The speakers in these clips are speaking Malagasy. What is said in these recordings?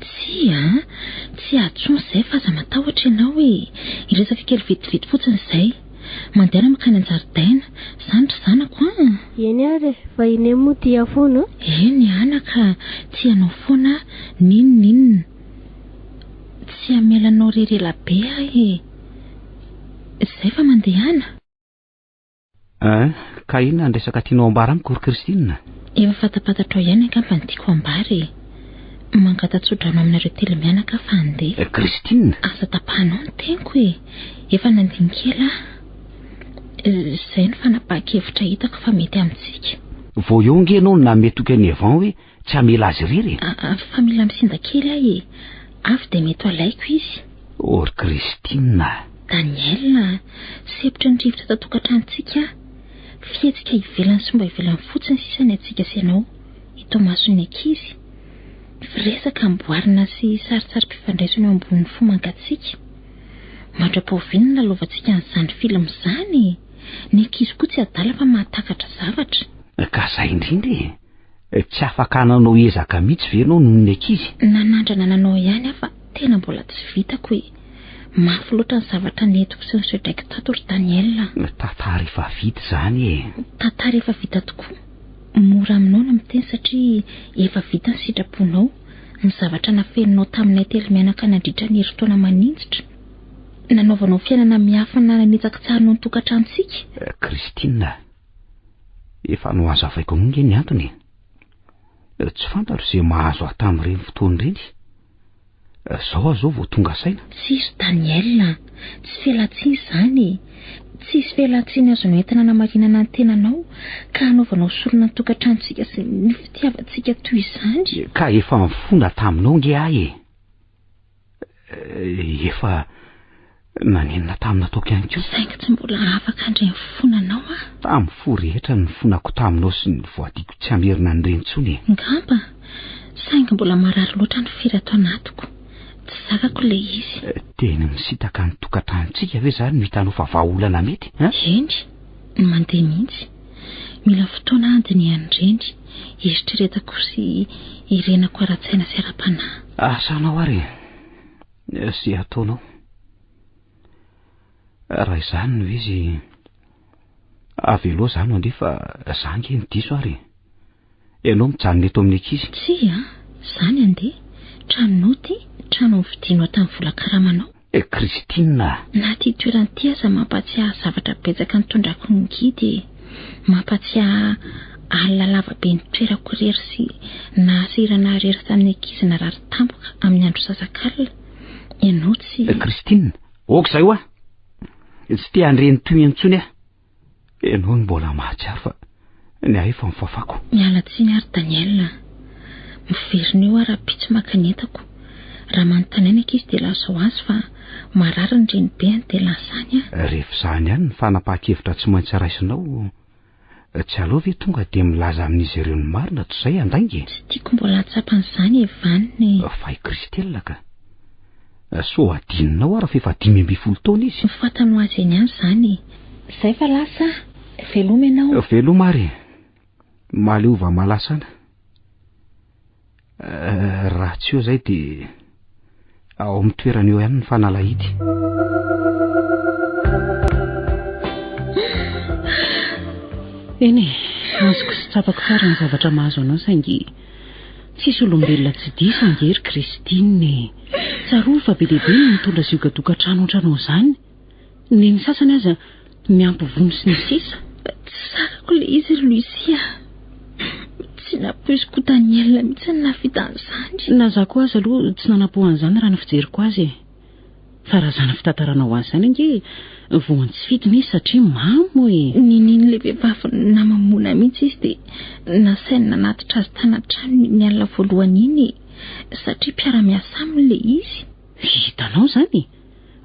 Tsia a! Tsy atsony izay fa aza matahotra ianao e! Hiresaka kely vetivety fotsiny izay. Mandeana mankany an-jaridaina, izany ry zanako an! Eny ary e! Vahiny eny moa dia foana an! Eny ana ka! Tsy ianao foana n'inon'inona! Tsy hamela anao irery ela be aho e! Izay fa mandehana? Hein, ka inona ny resaka tianao ambara amiko ry Christine? Efa fantapatatrao ihany angamba ny tiako ambara e. Mangata-tsodrano aminareo telo mianaka aho fa andeha. Eh, Christine! Aza tapahanao ny teniko e. Efa nandiny kely aho. Eh, izay no fanapahan-kevitra hitako fa mety amintsika. Vao eo ange ianao no namehy toky an'i Evan hoe Tsy hamela azy irery e. A- avy fa mila misinda kely aho e. Avy dia mety ho alaiko izy. O ry Christine a! Daniel a! Sempotra ny rivotra ato an-tokantranontsika aho. Fihetsika ivelany sy mba ivelany fotsiny sisa ny antsika sy ianao, eto imason'ny ankizy. Firesaka amboarina sy saritsary mpifandraisana eo ambonin'ny fo mangatsika. Mandra-pao ve no nilalaovantsika an'izany film izany e? Ny ankizy koa tsy adala fa mahatakatra zavatra. Ka zay indrindra e! Tsy afaka nanao ezaka mihitsy ve ianao noho ny ankizy? Nanandrana nanao ihany aho fa tena mbola tsy vitako e! Mafy loatra ny zavatra nentiko sy nosedraiko tato ry Daniel a! Tantara efa vita izany e! Tantara efa vita tokoa! Mora aminao ny miteny satria efa vita ny sitraponao, ny zavatra nafeninao taminay telo mianaka nandritra ny herintaona maninjitra, nanaovanao fiainana miafina nanitsakitsahana ny tokantranontsika. Christine a! Efa nohazavaiko aminao nge ny antony e. Tsy fantatro izay mahazo ahy tamin'ireny fotoana ireny. Zao aho zao vao tonga saina. Tsisy Daniel a. Tsy fialantsiny izany e. Tsisy fialantsiny azonao entina anamarinana ny tenanao ka hanaovanao sorona ny tokantranontsika sy ny fitiavantsika toy izany. Ka efa nifona taminao nge aho e. Eh, efa nanenina tamin'ny nataoko ihany koa saingy tsy mbola afaka handre ny fonanao aho tamin'ny fo rehetra ny fonako taminao sy ny voadiko tsy hamerina ny reny tsony e ngamba saingy mbola marary loatra ny firy ato anatiko tsy zakako le izy eh, teny misitaka ny tokantranontsika ve zany no hitanao fa vahaolana mety eny ny mandeha mihitsy Mila fotoana aho handinihany ireny, eritreretako sy irenako ara-tsaina sy ara-panahy. Asanao ary sy ataonao. Raha izany no izy, avelao izany ange fa za ange ny diso ary. Ianao mijanona eto amin'ny ankizy. Tsia a! Izany andeha! Tranonao ity, trano novidianao tamin'ny vola karamanao. Eh, Christine a! Na ity toerana ity aza mampahatsiahy zavatra betsaka nitondrako ny guide e! Mampahatsiahy alina lava be nitoerako irery sy nahasahirana ahy irery tamin'ny ankizy narary tampoka amin'ny andro sasakalina. Ianao tsy. Eh, Christine! Aoka izay hoa! Tsy te handre ny tohiny intsony aho. Ianao no mbola mahatsiaro fa ny ahy efa mifafako. Miala tsiny ary Daniel a. Miverina eo aho rahampitso maka ny entako. Raha manontany aina ankizy dia lazao azy fa marary ny renibeny dia lasa any aho. Rehefa izany ihany ny fanapahan-kevitra tsy maintsy raisinao, tsy aleo ve tonga dia milaza amin'izy ireo ny marina toy izay andainga e? Tsy tiako mbola hahatsapa an'izany e Vanina e. Fa i Christelle ka. Sao hadinonao ary fa efa dimy ambin'ny folo taona izy. Ny fantano azy eny ihany izany e. Izay fa lasa a! Veloma ianao. Veloma ary e! Maleova malasana. Raha tsy eo izay dia ao amin'ny toerana eo ihany ny fanalahidy. Eny e, azoko sy tsapako tsara ny zavatra mahazo anao saingy Tsisy olombelona tsy diso ange ry Christine e! Tsarovy fa be dia be ny mitondra ziogan-tokantrano ohatranao izany. Neny sasany aza miampy vono sy ny sisa. Tsy zakako ilay izy ry Lucia. Tsy nampoiziko ho Daniel mihitsy ny nahavita an'izany. Na za koa aza aloha tsy nanampo an'izany raha ny fijeriko azy e. Fa raha zana fitantarana ho azy zany ange voany tsy fidiny izy satria mamo e. Ninian'ilay vehivavy namamoana mihitsy izy dia nasainy nanatitra azy tany an-tranony iny alina voalohany iny e. Satria mpiara-miasa aminy ilay izy. Hitanao zany e.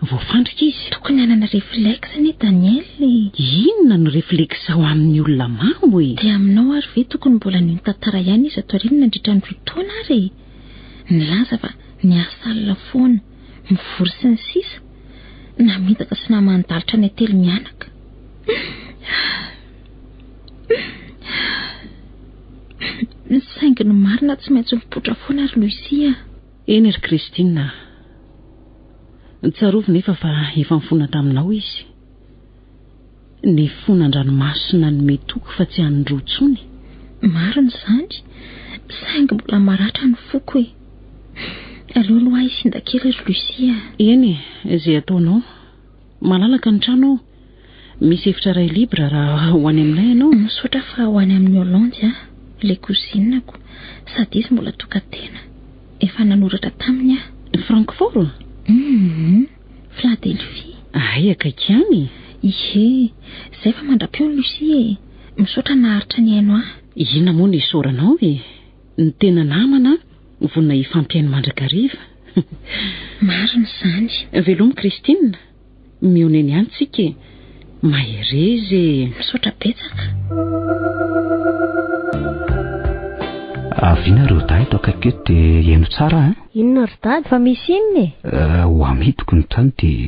Voafandrika izy. Tokony hanana reflexe anie Daniel e. Inona no reflexe ao amin'ny olona mamo e. Dia aminao ary ve tokony mbola nino tantara ihany izy ato aoriana nandritra ny roa taona ary e. nilaza fa niasa alina foana, mivory sy ny sisa Namitaka sy naman'i Dalitra ny ately mianaka. Saingy ny marina tsy maintsy mipoitra foana ry Lucia. Eny ry Christine ah. Tsarovy nefa fa efa nifona taminao izy. Ny fon' an-dranomaso nanome toky fa tsy an'ny roa tsony. Marina izany, saingy mbola maratra ny foko e! Aleo aloha ahy sinda kely ry Lucie a! Eny e, izay ataonao. Malalaka ny trano ao. Misy efitra iray libre raha ho any aminay ianao. Misaotra fa ho any amin'ny Hollande aho, ilay cousine-ko, sady izy mbola tokan-tena. Efa nanoratra taminy aho. Francfort? Hum. Philadelphie. Ahay akaiky ihany e! Ihe, izay fa mandra-peo Lucie e! Misaotra naharitra nihaino ahy. Inona moa no isaoranao e! Ny tena namana vonona hifampihaino mandrakariva. Marina izany. Veloma Christine! Mihaona eny ihany tsika e! Mahereza e, misaotra betsaka. Avina ry Oda eto akaiky eto dia heno tsara an. Inona ry Dada? Fa misy inona e? Eh, ho amidiko ny tany dia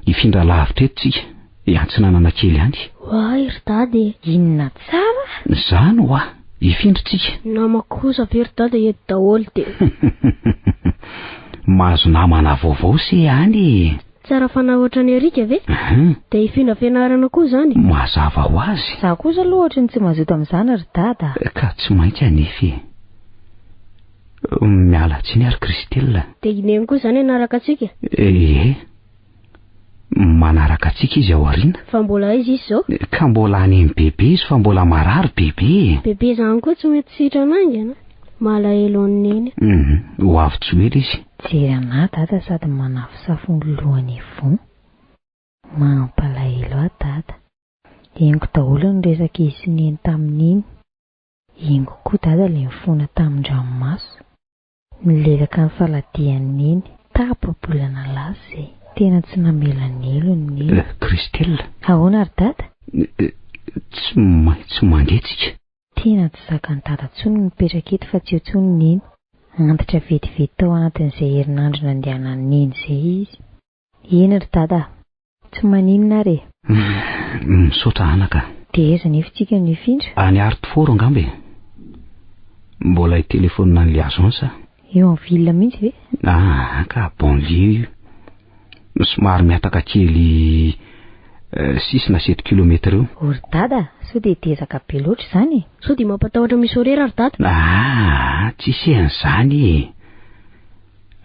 hifindra lavitra eto tsika, hiantsinanana kely any. Oay ry Dada e, inona tsara? Izany hoa, hifindra tsika. Namako kosa ve ry Dada eto daholo dia. Mahazo namana vaovao se any e. Tsara fanahy ohatran'i Eric ve? Hum. Dia i Fina Fianarana koa izany? Mazava ho azy. Za kosa aloha ohatry ny tsy mazoto amin'izany ry Dada a. Ka tsy maintsy hanefy e. Miala tsiny ary Christelle. Dia i Neny koa izany hanaraka antsika? Ee. Manaraka antsika izy ao aoriana. Fa mbola aiza izy izao? Ka mbola any amin'ny bebe izy fa mbola marary bebe e. Bebe izany koa tsy mety sitrana haingana. Malahelo an'i Neny. Hum, ho avy tsy ho ela izy. Mijery an'ahy dada sady manafosafo ny lohany ivon. Mampalahelo ahy dada. Henoko daholo ny resaka izy sy Neny tamin'iny. Henoko koa dada ilay nifona tamin-dranomaso. Nilelaka ny faladian'i Neny. Tapa-bolana lasa izay. Tena tsy namela Nelo ny Neny. Christelle. Ahoana ry dada? Tsy maintsy mandeha tsika. Tena tsy zakan'i Dada tsony ny mipetraka eto fa tsy eo tsony Neny. Antitra vetivety tao anatin'izay herinandro nandehanan'i Neny izay izy. Eny ry Dada a! Tsy maninona ary e! Hum, misaotra anaka a! Dia aiza anefa isika no hifindra? Any Hartford angamba e! Mbola hitelefaonina an'ilay agence aho. Eo en ville mihitsy ve? Ah, ka banlieue io. Somary mihataka kely euh, six na sept kilomètre eo. O ry dada, sao dia dezaka be loatra izany e? Sao dia mampatahotra misy horaire ry dada? Ah, tsisy e an'izany e.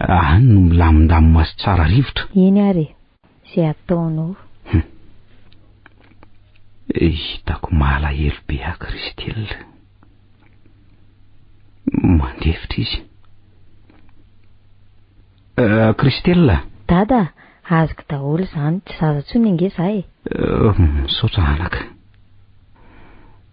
Any no milamindamina sy tsara rivotra. Eny ary e, ze ataonao. Hum. Hitako malahelo be ahy Christelle. Mandefitra izy. Euh, Christelle. Dada, azoko daholo izany, tsy zaza intsony ange za e. Euh, misaotra anaka.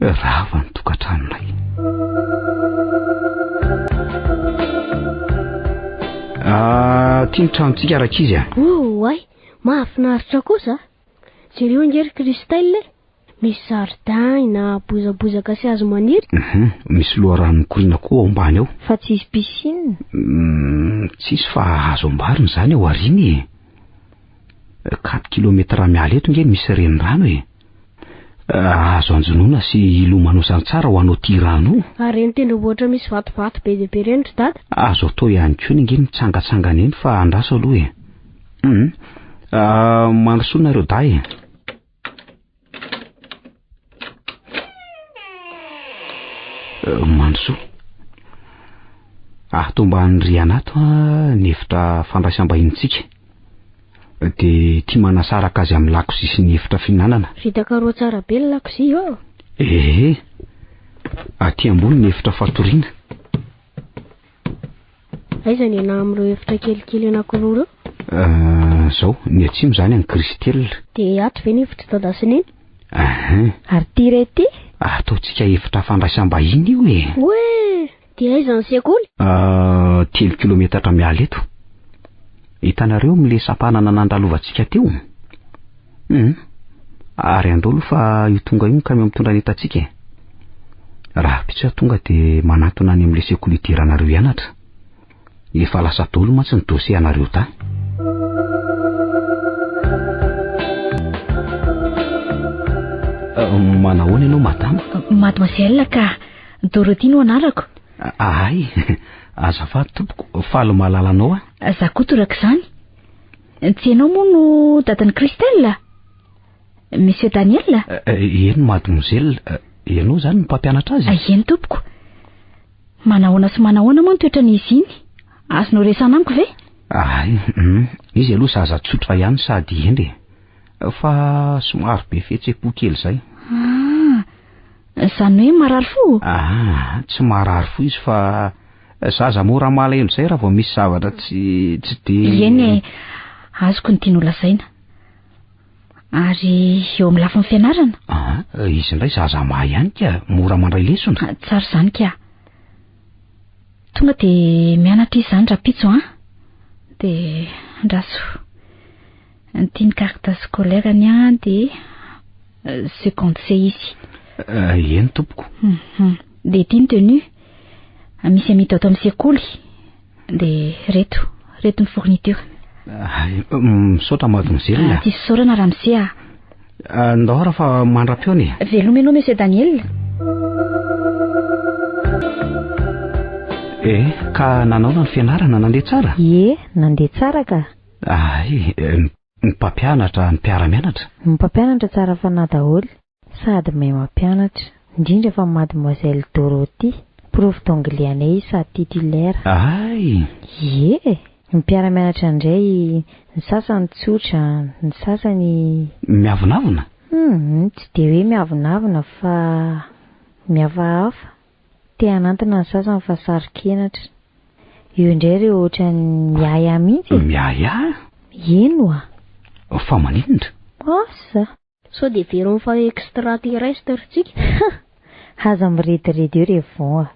Rava ny tokantranonay. Ah, tia ny tranontsika rakizy ah. Oh, ay, mahafinaritra kosa. Jereo angery Christelle. Misy zaridain na bozabozaka sy hazo maniry. Mhm, misy loharano mikoriana koa ao ambany ao. Fa tsisy piscine. Mm, tsisy fa hazo ambariny zany ao aoriana e. 4 kilometera miala eto nge misy renirano e. Ah, azo anjonoana sy hilomanosan tsara ho anao ty rano io. Ary ireny tendrombohitra ohatra misy vatovato be dia be ireny ry dada? Azo atao ihany koa ny nge mitsangatsangana eny fa andraso aloha e. Hum. Ah, mandrosoa nareo dahy e. Euh, mandrosoa. Atomban'ny riana ato ny efitra fandraisam-bahinintsika. dia tia manasaraka azy amin'ny lakozia sy ny efitra fihinanana. Vita karoha tsara be ny lakozia ô! Ee, aty ambony ny efitra fatoriana. Aiza ny anà amin'ireo efitra kelikely anankiroa ireo? Ah, izao, ny atsimo izany an'i Christelle. Dia ato ve ny efitr'i Dada sy Neny? Ahin. Ary ity re ity? Ataontsika efitra fandraisam-bahiny io e! Oe! Dia aiza ny sekoly? Ah, telo kilometatra miala eto. Hitanareo amin'ilay sampanana nandalovantsika teo? Hum, ary andao aloha fa io tonga io ny kamiao mitondra ny entantsika e. Raha pitsy aho tonga dia manantona any amin'ilay sekoly hidiranareo hianatra. Efa lasa dolo mantsy ny dossier anareo tany. Manahoana ianao madama? Mademoiselle ka, Dorothy no anarako. Ahay, azafady tompoko, faly mahalala anao aho. Za koa toraka izany. Tsy ianao moa no dadan'i Christelle? Monsieur Daniel? Eny mademoiselle, ianao izany no mpampianatra azy? Eny tompoko. Manahoana sy manahoana moa ny toetran'izy iny? Azonao resahana amiko ve? Ay, hum, izy aloha zaza tsotra ihany sady hendry e. Fa somary be fihetsem-po kely izay. Ah, izany hoe marary fo? Ah, tsy marary fo izy fa zaza mora malahelo izay raha vao misy zavatra tsy tsy dia. Ieny e, azoko ny tianao lazaina. Ary eo amin'ny lafiny fianarana? Ah, izy indray zaza mahay ihany ka, mora mandray lesona. Ah, tsara izany ka. Tonga dia mianatra izy izany rapitso an. Ah. Dia andraso. Anty ny carte scolaire ny an dia euh, seconde C izy. Ah, eny tompoko. Mhm. Dia ity ny tenue. Ah, misy amita ato amin'ny sekoly. Dia reto, reto ny fourniture. Misaotra mademoiselle. Ah, tsy fisaorana ramose ah. ah. Ndao raha fa mandra-peo ny. Veloma ianao monsieur Daniel. Eh, ka nanaona ny fianarana nandeha tsara? Ie, nandeha tsara ka. Ah, eh, ny mpampianatra, ny mpiara-mianatra. Ny mpampianatra tsara fanahy daholo. Sady mahay mampianatra. Indrindra fa Mademoiselle Dorothy, prof d'anglais anay izy sady titulaire. Ahay! Ie e! Ny mpiara-mianatra indray, ny sasany tsotra, ny sasany. Miavonavona? Humm, tsy dia hoe miavonavona fa mihafahafa. Te hanantona ny sasany fa saro-kenatra. Eo indray ireo ohatran'ny miahiahy mihitsy e! Miahiahy? Eny oa! Fa maninona? Asa! Sao dia heveriny fa extraterrestre tsika? Hah! Aza mirediredy eo re Von a!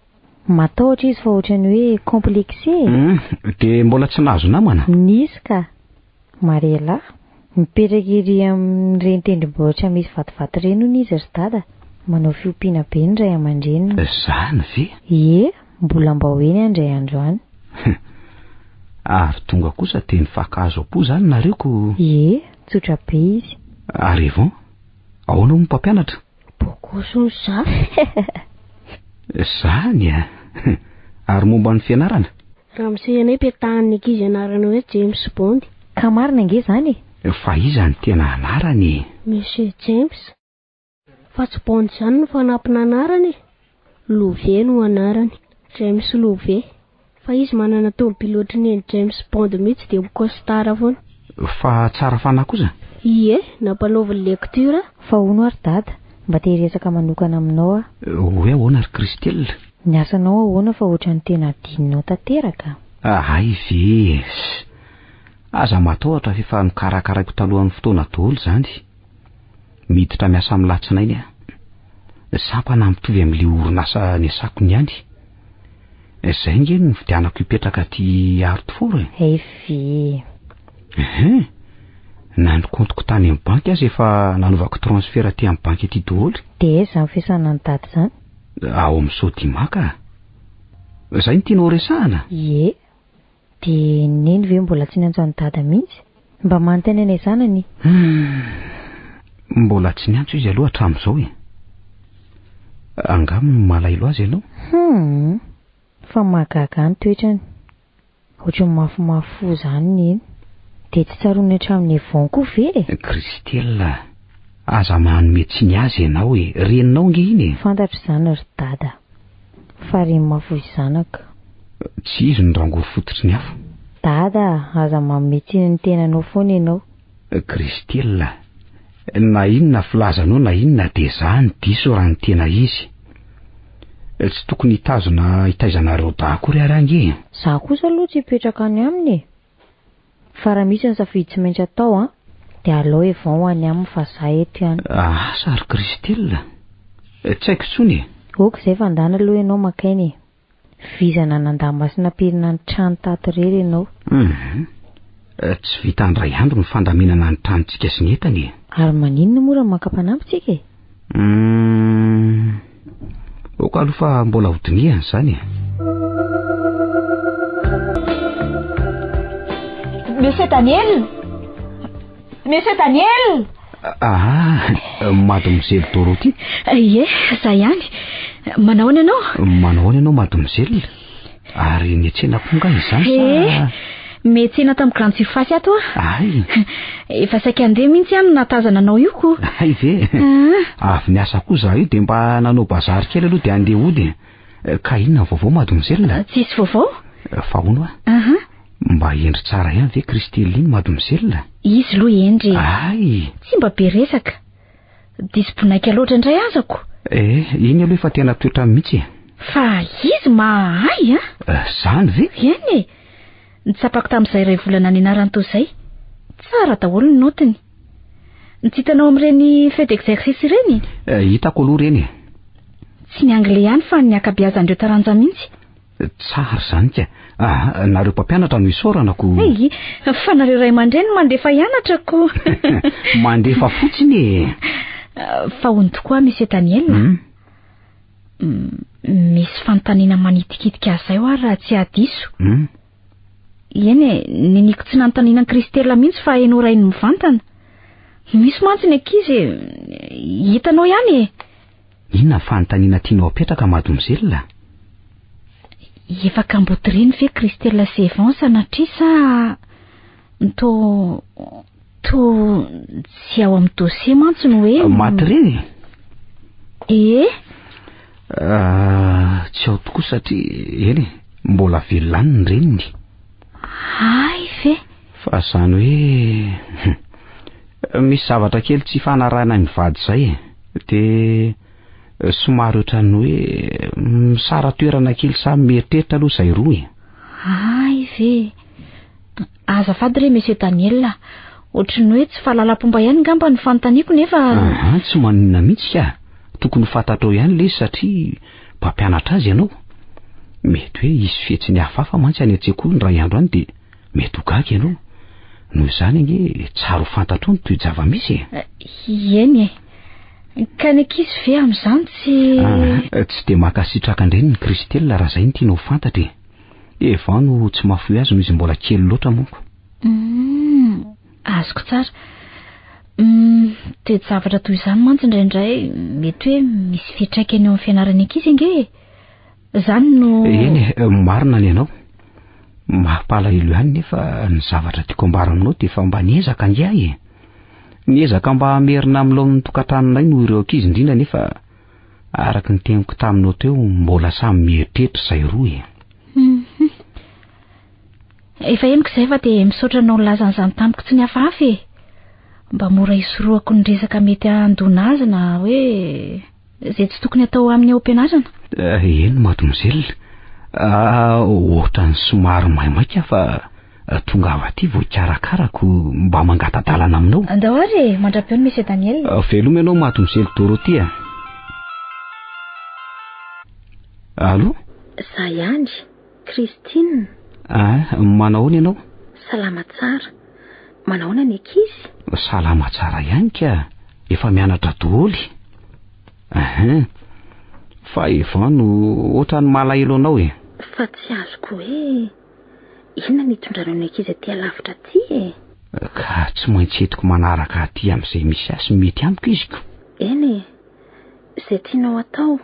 Matahotra izy fa ohatrany hoe complexé e! Hum, dia mbola tsy nahazo namana? Nisy ka! Mariela, mipetraka ery amin'ireny tendrombohitra misy vatovato ireny hono izy ry dada, manao fiompiana be ny ray aman-dreniny. Izany ve? Ie! Mbola mbao eny andray andro any. Hum. Ary tonga kosa dia nifakahazo am-po izany nareo ko. Ie, tsotra be izy. Ary Yvon? Ahoana moa mpampianatra? Bokoso ny zafy. Zany a! Ary momba ny fianarana? Ramose ianao ipetahan'ny ankizy anarana hoe James Bond. Ka marina ange izany e! Fa iza ny tena anarany e? Monsieur James. Fa tsy Bond izany no fanampina anarany e! Love no anarany. James Love. Fa izy manana tômôbily ohatry ny an'i James Bond mihitsy dia ho costard foana. Fa tsara fanahy kosa? Ie, nampanaovy ny lecture. Fa hono ary Dada, mba te hiresaka manokana aminao aho. Hoe ahoana ry Christelle? Ny asanao ahoana fa ohatran'ny tena adinonao tanteraka? Hay ve e! Aza matahotra f'efa nokarakaraiko talohan'ny fotoana daholo izany. Miditra miasa amin'ny latsinainy aho. Sampana mitovy amin'ilay orinasa niasako niany. Izay ange no nividianako hipetraka aty Hartford e. Evie. Ehe. Na ny kaontiko tany amin'ny banky aza efa nanaovako transfert aty amin'ny banky aty daholo. Dia aiza izany fiasana an'i Dada izany? Ao amin'ny Sodimac. Izay no tianao horesahana? Ie. Dia neny ve mbola tsy niantso an'i Dada mihitsy? Mba manontany anay zanany e! Humm! Mbola tsy niantso izy aloha hatramin'izao e! Angamba malailo azy ianao? Humm! Fa mahagaga ny toetrany. Ohatran'ny mafimafy fo izany neny. Dia tsy tsaroany hatramin'ny Yvon koa ve e! Christelle! Aza manome tsiny azy ianao e! Reninao ange iny e! Fantatro izany ry Dada. Fa re ma fohy zanaka. Tsy izy no rangory fototry ny afo. Dada a, aza manome tsiny ny tenanao foana ianao. Christelle a, na inona filazanao na inona dia zah ny diso raha ny tena izy. Tsy tokony hitazona hitaizanareo dahy akory ary ange e. Zah kosa aloha tsy hipetraka any aminy e. Fa raha misy ny safidy tsy maintsy atao an, dia alao Evan ho any aminy fa za eto ihany. Asa ry Christelle? Tsy haiko intsony e! Ok izay fa ndana aloha ianao maka aina e! Vizana nandà masina pirina ny trano tato irery ianao. Hum! Tsy vita indray andro ny fandaminana ny tranontsika sy ny entana e! Ary maninona moa raha maka mpanampy tsika e? Uhm, ok aloha fa mbola ho dinihana izany e. Monsieur Daniel Monsieur Daniel Ah, mademoiselle Dorothy eh, Ie, za ihany Manahoana ianao Manahoana ianao mademoiselle Ary metsena koa nga izany sa? Eh, metsena tamin'ny grande surface ato ah. Ay. Efa saika andeha mihitsy aho no nahatazana anao io ko. Ay ve? Ah. Avy niasa koa za io dia mba nanao bazary kely aloha dia andeha hody. Eh, ka inona ny vaovao mademoiselle? Ah, tsisy vaovao. Eh, fa hono ah. Aha. Mba hendry tsara ihany ve Christeline mademoiselle? Izy lo hendry. Ay. Tsy mba be resaka. Diso bonaika loatra indray azako. Eh, iny aloha efa tena toetra mihitsy e. Fa izy mahay a? Eh, zany ve? Eny e. Nitsapako tamin'izay iray volana nianarany toa izay. Tsara daholo ny notiny. Ny tsy hitanao amin'ireny feu d'exercice ireny? Eh, hitako aloha ireny e. Tsy ny anglais ihany fa ny ankabeazan'ireo taranja mihitsy. Tsara izany ka. Ah, nareo mpampianatra no isaorana ko. Hey, fa nareo ray aman-dreny mandefa hianatra ko. mandefa fotsiny e. Ah, fa ony tokoa Monsieur Daniel. Hmm? Hmm, misy fanontaniana manitikitika azy zay ary raha tsy adiso. Hmm? Eny e, niniko tsy nanontaniana Kristela mihitsy fa hainao rainy mivantana. Misy mantsy ny ankizy e. Hitanao ihany e. Inona ny fanontaniana tianao apetraka mademoiselle? Efa kambotiriny ve Christelle sy Evans sanatria sa to to tsy ao amin'ny dossier mantsy no hoe Maty re? Ee? Ah, tsy ao tokoa satria eny e, mbola velona any ny reniny. Hay ve? Fa izany hoe hum, misy zavatra kely tsy ifanarahanay mivady izay e. Dia eh, somary ohatran'ny hoe misara toerana kely samy mieritreritra aloha izay roa e. Hay ve? Azafady re Monsieur Daniel a. Ohatran'ny hoe tsy fahalalam-pomba ihany ngamba ny fanontaniako nefa... Aha, tsy maninona mihitsy ka. Tokony ho fantatrao ihany lesy satria mpampianatra azy ianao? Mety hoe hisy fihetsiny hafahafa mantsy any an-tsekoly ny iray andro any dia mety ho gaga ianao. Noho izany ange tsara ho fantatrao ny toe-java-misy e. Eh, eny e. Ka ny ankizy ve amin'izany tsy... Ah, tsy dia mankasitraka an-dreny ny Christelle raha izay no tiana ho fantatra e. Eva no tsy mahafoy azy noho izy mbola kely loatra manko. Mm. Azoko tsara. Hum, toe-javatra toy izany mantsy indraindray mety hoe misy fiantraikany eo amin'ny fianarany ankizy ange e. Izany no... Eny e, marina ny anao. Mampalahelo ihany nefa ny zavatra tiako ambara aminao dia efa mba niezaka ange ahy e. Niezaka mba hamerina amin'ny laon'ny tokantranonay noho ireo ankizy indrindra nefa araka ny teniko taminao teo mbola samy mieritreritra izay roa e. Efa henoko izay fa dia misaotra anao nilaza an'izany tamiko tsy nihafahafa e! Mba mora hisorohako ny resaka mety handona azy na hoe izay tsy tokony atao amin'ny ao am-pianarana. Eny mademoiselle, ohatran'ny somary maimaika aho fa tongava aty vao hikarakarako mba mangata-dalana aminao. Andao ary e! Mandra-peo ny Monsieur Daniel. Veloma ianao mademoiselle Dorothée a! Allo? Za ihany. Christine. Ah, manao ahoana ianao? Salama tsara. Manao ahoana ny ankizy? Salama tsara ihany ka. Efa mianatra doholy. Ah, fa Evan no ohatran'ny malahelo anao e. Fa tsy azoko hoe inona ny itondranao ny ankizy aty alavitra aty e. Ka tsy maintsy etiko manaraka aty amin'izay misy azy mety amiko iziko. Eny e. Izay tianao atao.